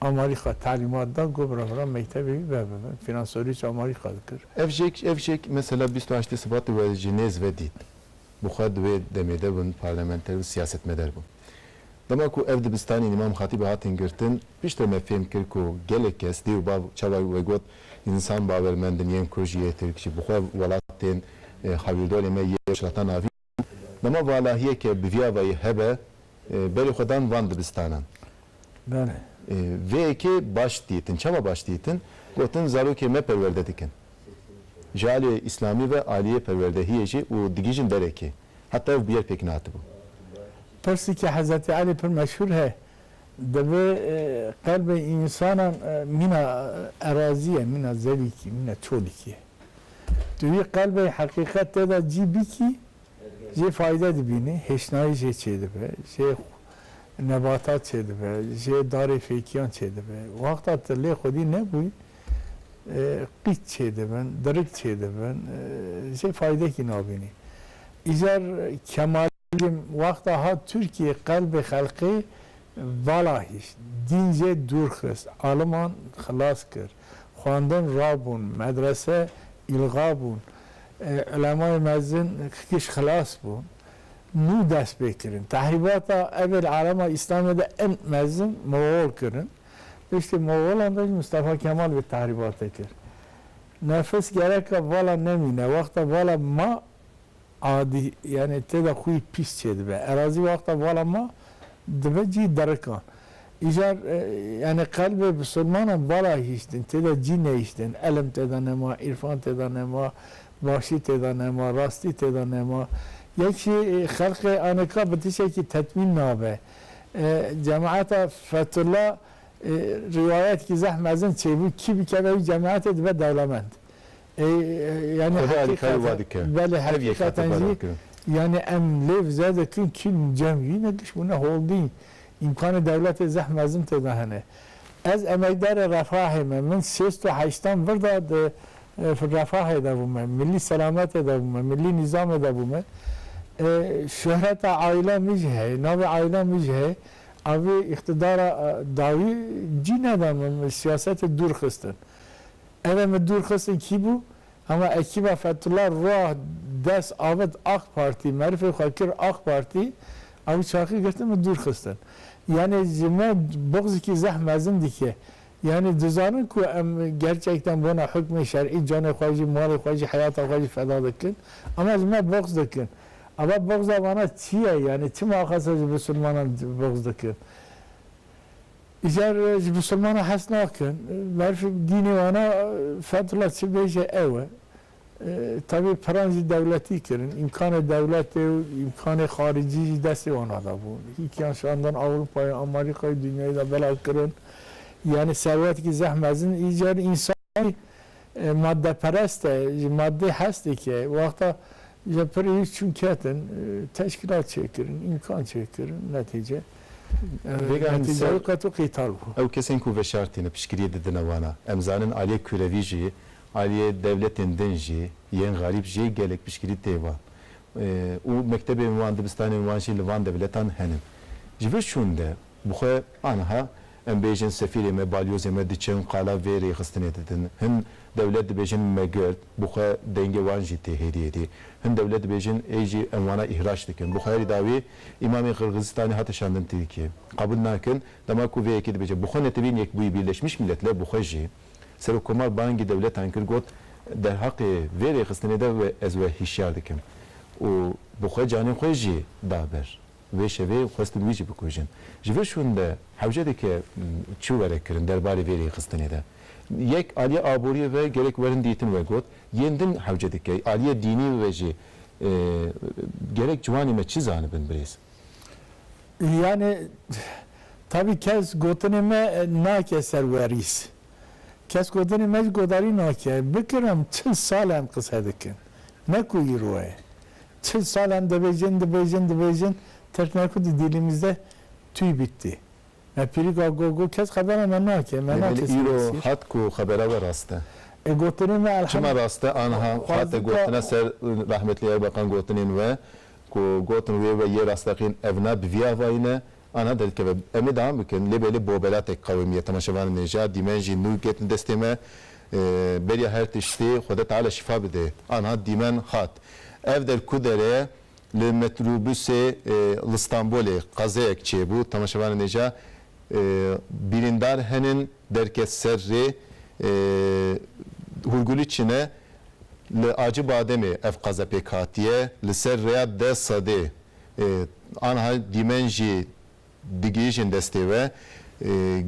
Amerîka talîmat da ku birevran mektebê wî ve bibin. Fînansorî çi Amerîka dikir? Ev jêk ev jêk mesela bîst û heştê Sibatê we ji nêz ve dît bi xwe di wê demê de bûn parlamenter û siyasetmeder bûn. Dema ku ev dibistanên Îmam Xatîbê hatin girtin piştre me fêm kir ku gelek kes dê û bav çawa we got însan bawermend in yên ku ji yê Tirk jî bi xwe welatên hewîldorê me yê weşratan avîn. Dema valahiyê ke bi viyavayî hebe berê xwe dan van dibistanan. Belê. Vê yekê baş dîtin. Çawa baş dîtin? Gotin zarokê me perwerde dikin. Ji aliyê îslamî ve aliyê perwerdehiyê jî û digihîjin derekê. Heta ev bi yer pêk natibû. Pirsîkê Hezretî Elî pir meşhûr he. Divê qelbê însanan mîna erazî ye, mîna zevîkî, mîna çolîkî ye. Tu wî qelbê heqîqet te de cî bikî, jê fayde dibînî, hêşnayî jê çêdibe, jê nebatat çêdibe, jê darê fêkiyan çêdibe. Wexta tu lê xwedî nebûyî, qît çêdibin, dirik çêdibin, jê faydekî nabînî. Îcar Kemalizm wexta hat Tirkiyê qelbê xelkê vala hişt, dîn jê dûr xist, aliman xilas kir, xwendin rabûn, medrese îlga bûn, ulemayê mezin kişt xilas bûn. Nû dest pê kirin. Tehrîbata evê li alema Îslamê de in mezin Moxol kirin. Piştî Moxolan de jî Mistefa Kemal vê tehrîbatê kir. Nefis gereka vala nemîne, wexta vala ma Adî yanî tê de xwî pîs çêdibe. Erazî wexta vala ma dibe cî derikan. Îcar yanî qelbê bi silmanan vala hîştin tê de cî nehîştin. Elm tê de nema, îrfan tê de nema, başî tê de nema, rastî tê de nema. Yek jî xelqê anêka bi tiştekî tetmîn nabe. Cemaeta Fethullah rîwayetkî zeh mezin çêbû kî bikeve wî cemaetê dibe dewlemend. Ev ê alîkarî wa dike. Belê heqîqeten jî yanî em lê bi zerdetîn çîn cem jî ne dişmûn ne holdîn. Îmkanê dewletê zeh mezin tê de hene. Ez emekdarê Refahê me. Min sêst û heştan vir da di Refahê de bû me. Milî selametê de bû me. Milî nîzamê de bû me. Şuhreta aîla min jî heye. Navê aîla min jî heye. Avê îqtidara dawî cî neda min. Min siyasetê dûr xistin. Ere min dûr xistin kî bû? Hema ekîba Fethullah Ruah des avêt Aq Partî, merifê xwe kir Aq Partî, ew çaxî girtin min dûr xistin. Yanî ji me buxzikî zeh mezin dike. Yanî dizanin ku em gerçekten bona hukmê şerî canê xwe jî, malê xwe jî, heyata xwe jî feda dikin. Ema ji me buxz dikin. Eva buxza wana çi ye? Yanî çima axaser ji bisilmanan buxz dikin? Îcar ji misilmanan hes nakin. Berf dînê wan e Fethullah çi bêje ew e. Tevî piran jî dewletî kirin. Îmkanê dewletê û îmkanê xaricî jî destê wan a de bû. Hîkiyan şandin Ewropayê, Amerîkayê, dinyayê de belav kirin. Yanî serwetekî zeh mezin. Îcar însan jî madeperest e. Ji madê hes dike. Wexta Ji pirî çûn ketin, teşkîlat çêkirin, îmkan çêkirin, netîce netîce wî qeto qîtal bû. Ew kesên ku veşartîne piştgiriyê didine wana. Em zanin aliyê kurevî jî, aliyê dewletên din jî, yên xerîb jî gelek piştgirî tê wan. Û mektebên wan, dibistanên wan jî li van dewletan hene. Ji vir çûn de Bi xwe, aniha em bêjin sefîrê me, balyozê me diçin qala vê rêxistinê didin. Hin dewlet dibêjin me girt, bi xwe dengê wan jî tê hêdiyê dî. Hin dewlet dibêjin ê jî em wana îhraç dikin. Bi xwe herî dawî îmamê Qirgizistanê hate şandin Tirkiyê. Qebûl nakin, dema ku vê yekê dibêje bi xwe netewîn Yekbûyî Birleşmiş Mîletler bi xwe jî. Serokkomar bangî dewletan kir got, derheqê vê rêxistinê de ez we hişyar dikim û bi xwe canê xwe jî da ber. Vê şevê xwestin wî jî bikujin. Ji vir şûn de hewcedeke çû were kirin derbarê vê rêxistinê de. Yek aliyê aboriyê ve gerek werin dîtin we got, yên din hewcedike aliyê dînî ve jî gerek ciwanê me çi zanibin birêz? Yanê tabî kes gotinê me nake ser werîs. Kes gotinê me jî godarî nake. Bikirin çil sal em qise dikin. Ne ku îro ye. Çil salan dibêjin, dibêjin, dibêjin, Tirk ne ku di dîlî mizde tûy bîttî. Me pîrî ga go go kes xebera me nake, me nake serê Îro sîr. hat ku xebera we rast e. E gotinên me elhemd. Çima rast e? Aniha hate gotine ser rehmetlî Erbeqan gotinên we ku gotin wê we yê rasteqîn ev ne bi vî avayî ne Ana derkeve em ê devam bikin lê belê bo belatek qewimî ye temaşevanên ê jîya dîmen jî nû girtin destê me beriya her tiştî Xwede Teala şîfa bidê anha dîmen hat ev der ku der e li metrûbusê li Stenbolê qezeyek çêbû temaşevanên ê jîya bîrîndar henin derke ser rê Hûrgulî çine li Acibademê ev qeze pêk hatiye li ser rêya deh sedê. Anha dîmen jî digihîjin destê we.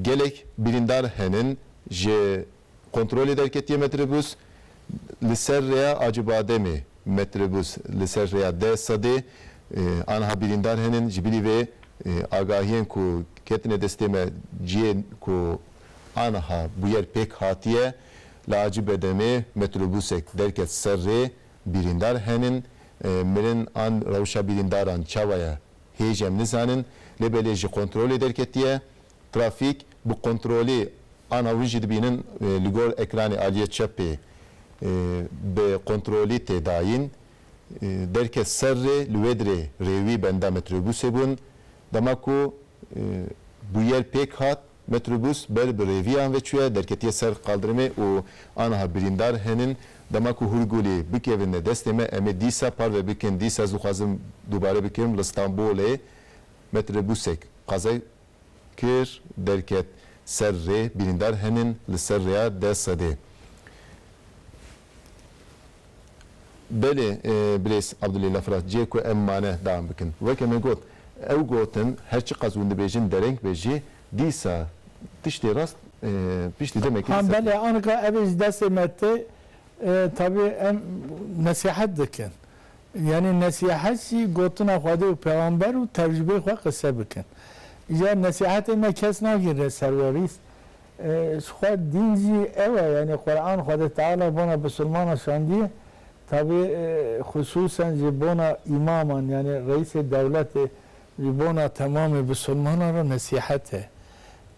Gelek birîndar henin ji kontrolê derketiye metrobûs li ser rêya Acibademê metrobûs li ser rêya deh sedê anha birîndar henin ji birî vê agahiyên ku ketine destê me ciyê ku anha bûyer pêk hatiye li Acibedemê metrobûsek derket ser rê Birîndar henin, mirin an rewşa birîndaran çawa ye hêj em nizanin lê belê ji kontrolê derketiye. Trafîk bi kontrolê ana win jî dibînin li gor ekranê aliyê çepê bi kontrolî tê dayîn. Derket ser rê li wê dirê rê wî benda metrobûsê bûn. Dema ku bûyer pêk hat Metrobûs ber bi rêviyan ve çûye, derketiye ser qaldirmê û aniha birîndar henin. Dema ku Hûrgûlî bikevine destê me em ê dîsa parve bikin. Dîsa ez dixwazim dubare bikim li Stenbolê metrobûsek qaze kir derket ser rê, birîndar henin li ser rêya deh sedê. Belê Bilês Abdulî Lafras cihê ku em mane dawam bikin. Weke me got, ew gotin her çiqas hûn dibêjin dereng be jî dîsa tiştê rast piştî demekê dîsa tê. Belê anika ev ê ji destê me tê tabî em nesîhet dikin. Yanî nesîhet jî gotina Xwedê û Pêxamber û tecrûbeyê xwe qise bikin. Îcar nesîhetê me kes nagîre serwerî Ji xwe dîn jî ew e yanî Quran Xwedê Teala bona bisilmanan şandiye tavê xusûsen ji bona îmaman yanî reîsê dewletê ji bona temamê bisilmanan re nesîhet e.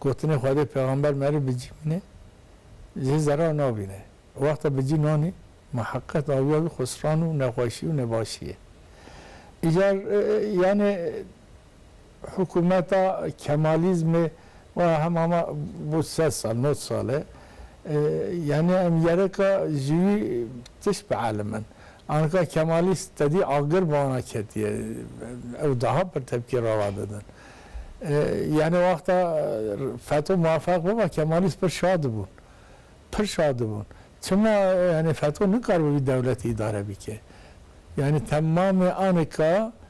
Gotinê Xwedê Pêxamber merê bi cî mine jê zerar nabîne. Wexta bi cî nanî me heqet awiya wî xusran û nexweşî û nebaşî ye. Îcar yanî. Hikûmeta Kemalîzmê waya hema ma bo sed sal, nod sal e. Yanî em yerika ji wî tişt bi elim in. Anika Kemalîst tedî agir bi wana ketiye. Ew daha pir tepkî rava didin. Yanî wexta feto muwefeq biba Kemalîst pir şa dibûn. Pir şa dibûn. Çima yanî feto nikaribe vî dewletî îdare bike. Yanî temamê anika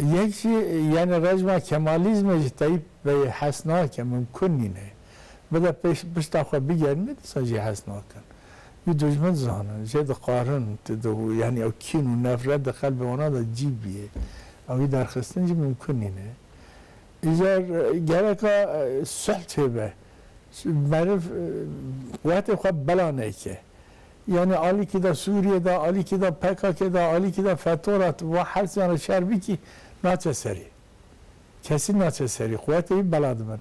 Yek jî yenê rejma kemalîzmê ji Teyîp beyê hes nake, mimkun nîne. Bide pêş pişta xwe bigerîne dîsa jê hes nakin. Wî dojmin dizanin, jê dixwarin, yanî ew kîn û nefret di qelbê wana de cî bîyê. Ew wî derxistin jî mimkun nîne. Îcar gereka sulh çêbe. Meriv quwetê xwe bela neke. Yanî alîkî da Sûriyê da, alîkî da PKK'ê da, alîkî da FETÖ ra tu va hesiyan ra şer bikî naçe serî. Kesî naçe serî. Quwetê wî bela dibin.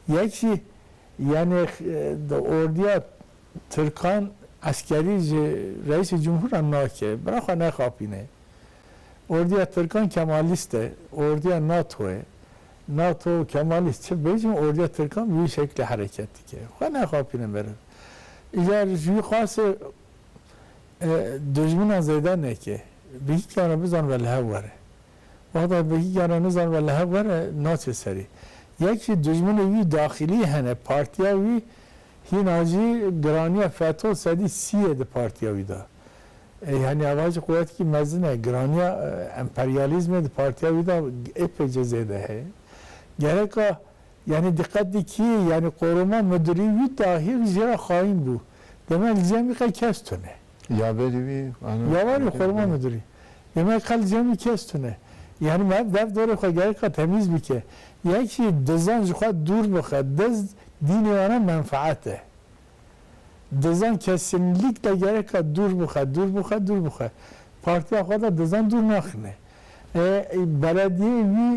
Yek jî yanî di ordiya tirkan eskerî ji Reîsê Cumhur ra nake. Bira xwe nexapîne. Ordiya tirkan kemalîst e. Ordiya NATO ye. NATO û kemalîst çi bêjin ordiya tirkan bi wî şeklê hereket dike. Xwe nexapîne meriv. Îcar ji wî xwase dijminan zêde neke. Bi hî kare bizan ve li hev were. Wexta bi hî kare nizan ve li hev were naçe serî. Yek jî dijminê wî daxilî hene partiya wî hîna jî giraniya feto sedî sî ye di partiya wî de. Ê yanî ava jî quwetekî mezin e. Giraniya emperyalîzmê di partiya wî de êpêce zêde heye. Gereka Yanî diqet di kî, yanî qorûma mudirî wî dahîr jî ra xayîn bû. Demek li cemî qe kes tune. Ya berî wî ana. Ya berî qorûma mudirî. Demek qe li cemî kes tune. Yanî ma dev dorê xwe gerek qe temîz bike. Yek jî dizan ji xwe dûr bixe. Diz dînê wan e menfeet e. Dizan kesinlîkle gerek qe dûr bixe, dûr bixe, dûr bixe. Partiya xwe de dizan dûr naxine. E, belediyeyê wî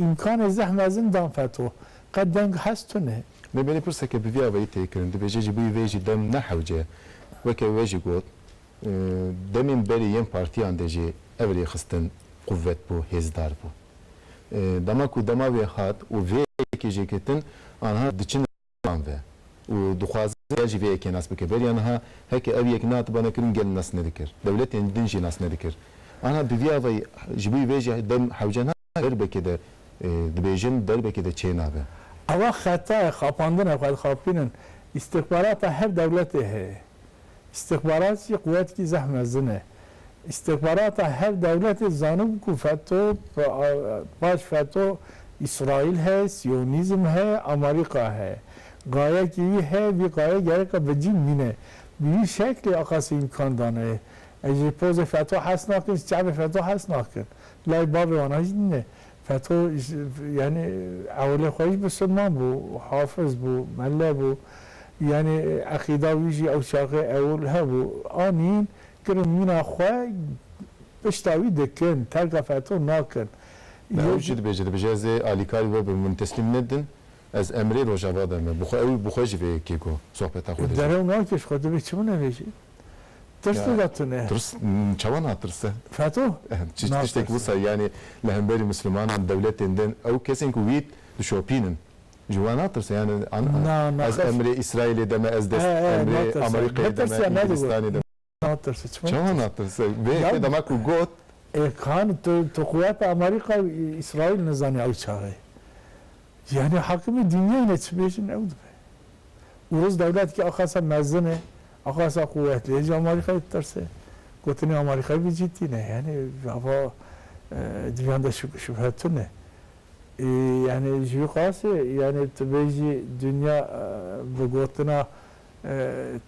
îmkanê zeh mezin dan feto. Qe deng hez tune. Me belê pirseke bi vî avayî tê kirin, dibêje ji bo vê jî dem ne hewce. Weke we jî got, demên berî yên partiyan de jî ev rêxistin quvet bû, hêzdar bû. Dema ku dema wê hat û vê yekê jêkirtin, anha diçin wan ve û dixwaze gel jî vê yekê nas bike. Beriya niha heke ev yek nehatibane kirin gel nas nedikir. Dewletên din jî nas nedikir. Aniha bi vî avayî ji bo vê jî dem hewce nabe û derbekê de dibêjin derbekê de çênabe. Ev a xeta ye xapandina xwe dixapînin. Îstixbarata her dewletê heye. Îstixbarat jî quwetkî zeh mezin e. Îstixbarata her dewletê zanibû ku FETO, paş FETO Îsraîl heye, Siyonîzm heye, Amerîka heye. Gayekî wî heye, vî gaye gereka bi cîn mîne. Bi vî şeklê Aqasî îmkan dane ez ji pozê FETO hez nakim, ji çavê FETO hez nakim. Lay bavê wan a jî nîne. Feto yanî ewilê xwe jî misilman bû, hafiz bû, melle bû. Yanî eqîda wî jî ew çaxê ewil hebû. Anîn kirin mîna xwe pişta wî dikin, terka Feto nakin. Me ew jî dibêje, dibêje ez ê alîkarî bibe min teslîm nedin, ez emrê Rojava de me. Bi xwe ew bi xwe jî vê yekê got, sohbeta xwe de jî. Derew nakir ji xwe dibê çi binivêjî? Tirs dida tu ne. Tirs çawa natirse? Feto natirse. Çi tiştek wisa yanî li hemberî mislimanan dewletên din ew kesên ku wî dişopînin ji wan natirse yanî ez emrê Îsraîlê de me ez dest emrê Amerîkayê de me Îngilîstanê de me natirse çawa natirse vê yekê dema ku got Ê kan tu quweta Amerîka û Îsraîl nizanî ew çawa ye yanî hakimê dînyanê çi bêjin ew dibe. Uruz dewletekî axasa mezin e, axasa quwetli ye ji Amarîkayê ditirse. Gotinên Amarîkayê vî cî tîne. Yanî ava dûyan de şubhe tune. Yanî ji vî qasî yanî tu bêjî dûnya bi gotina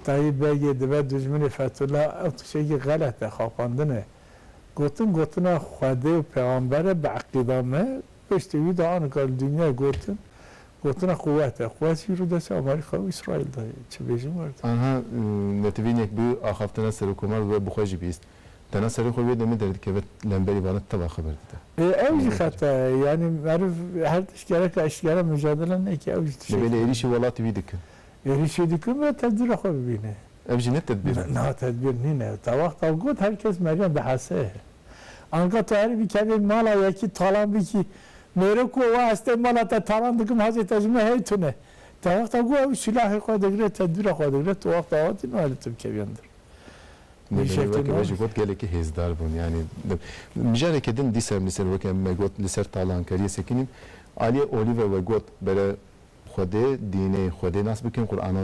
Tayîb Begê dibe dûjminê Fethullah ew tiştekî xelet e, xapandin e. Gotin gotina Xwedê û pêxamber e bi eqîda me. Piştî wî de anika li dûnyayê gotin Gotina quwet e. Quwet jî rû destê Amerîka û Îsraîl de ye. Çi bêjim werdin. Anha netivînek bi axaftina Serokomar we bixwe jî bîst. Tena serê xwe wê demê derdikeve lemberî vana teva xeber dide. Ê ew jî xeta ye. Yanî meriv her tişt gereka eşkera micadele neke ew jî tişek dibîne. Dibê lê êrîşê welatî wî dikin. Êrîşê dikin be tedbîra xwe bibîne. Ev jî ne tedbîr in. Na tedbîr nîne. Ta wexta got her kes meriyan dihese ye. Anka tu erê bikevî mala yekî talan bikî. Mêro ku wa ez tê mala te talan dikim hacê te ji min hey tune. Te wexta ku ew silahê xwe digre tedbîra xwe digre tu wexta wa tî nayê li tu bikevî li dir. Mêrî weke wê jî got gelekî hêzdar bûn yanî mijareke din dîsa em li ser weke em me got li ser talankeriyê sekinîn aliyê Olive we got bere Xwedê, dînê, Xwedê nas bikin, Qur'ana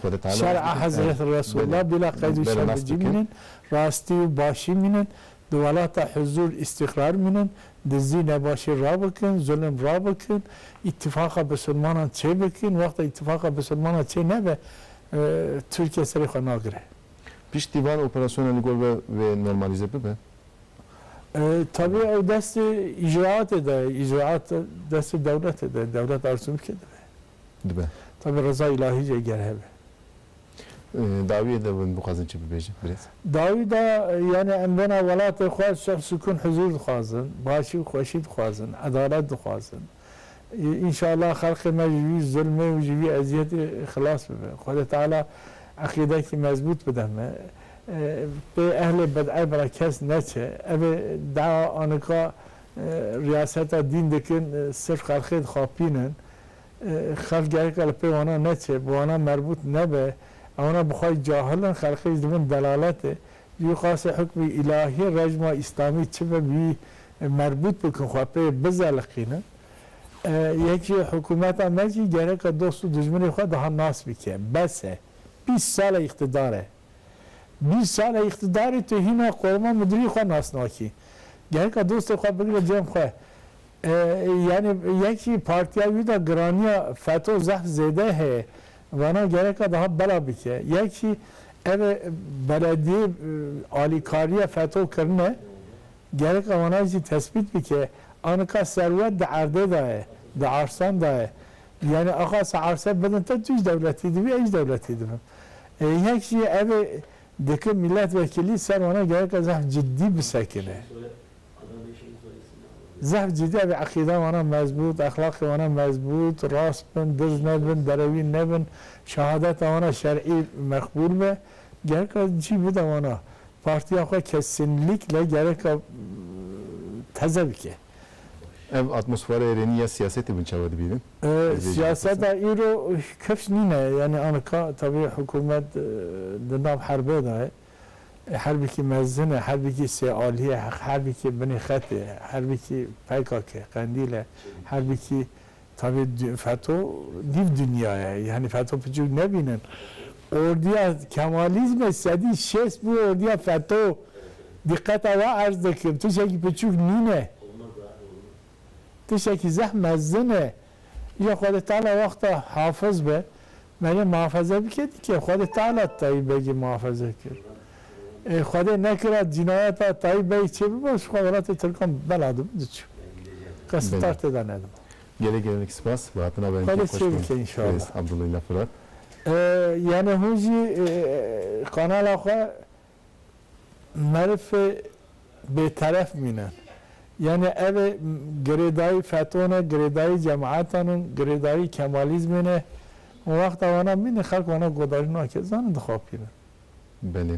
Xwedê Teala nas bikin. Şer'a Hezreti Resulla bila qeyd û şermecî mînin, rastî û başî mînin, di welata huzûr, îstîqrar mînin, dizdî nebaşî rabikin, zulm rabikin, îtîfaqa bisilmanan çêbikin, wexta îtîfaqa bisilmanan çê nebe Tirkiye serê xwe nagire. Piştî van operasyona li gor ve wê normalîze bibe? Tevî ew destê îcraatê de ye, îcraat destê dewletê de ye, dewlet arzu bike dibe. Dibe. Tevî reza îlahî jî eger hebe. Dawiyê de hûn bixwazin çi bibêjin birêz? Dawî de yanî em bêna welatê xwe şex, sukûn, huzûr dixwazin, başî û xweşî dixwazin, edalet dixwazin. Înşallah xelqê me ji vî zilmê û ji vî eziyetê xilas bibe. Xwedê Teala eqîdekî mezbût bide me. Pê ehlê bid'e bira kes neçe. Ev ê dea a nika riyaseta dîn dikin sirf xelqê dixapînin. Xelq gereka li pê wana neçe, bi wana merbût nebe. Ewana bi xwe cahil in, xelqê jî dibin delaletê. Dî qasê hukmê îlahî rejma îslamî çi be bî merbût bikin xwe pê bizeliqînin. Yekî hikûmeta me jî gereka dost û dijminê xwe daha nas bike. Bes e. Bîst sal e îqtidar e. Bîst sal e îqtidar e tu hîna Korema Mudirî xwe nas nakî. Gereka dostê xwe bigre cem xwe. Yanî yekî partiya wî de giranîya feto zehf zêde heye. Vana gereka dihat bela bike. Yek jî ev ê belediyê alîkariya feto kirine gereka vana jî tesbît bike. A nika serwet di erdê da ye, di arsan da ye. Yanî axa se arse bidin te tu jî dewletî dibî ez jî dewletî dibim. Yek jî ev ê dikin mîletvekilî ser vana gereka zehf cidî bisekine. Zehf cîdîya vê eqîda wana mezbût, exlaqê wana mezbût, rast bin, dirz nebin, derewîn nebin, şehadeta wana şer'î meqbûl be, gereka cî bide wana. Partîya xwe kesinlîkle gereka teze bike. Ev atmosfera êrênî ya siyasetê min çawa dibînin? Ez vê jî bipirsim. Siyaseta îro kevç nîne. Yanî anika tevî hikûmet di nav herbê de ye. Herbikî mezin e, herbikî sê alî ye, herbikî binê xetê ye, herbikî pkk, qendîl e, herbikî tavê feto nîv dinya ye. Yanî feto piçûk nebînin. Ordiya kemalîzmê sedî şêst bûye ordiya feto. Dîqeta we erz dikim. Tiştekî piçûk nîne. Tiştekî zeh mezin e. Lê Xwedê Teala wexta hafiz be merê muhafaze bike dike. Xwedê Teala Tayî Begî muhafaze kir. Ê Xwedê nekira cînayeta Tayî Beg çê bibo ji xwe welatê Tirkan bela dibo diçû. Kes tar tê de nedibo. Gelek gelek spas bi hatina be Xwedê çê bike înşallah. Abdullah Fırat. Yanê hûn jî kanala xwe Meriv ê bêteref mîne. Yanî ev ê girêdayî fetwa ne, girêdayî cemaetan in, girêdayî kemalîzmê ne. Û wexta wana mîne xelk wana godarî nake, zanin dixapînin. Belê.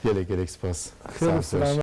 Gelek gelek spas. Xêr û silamet.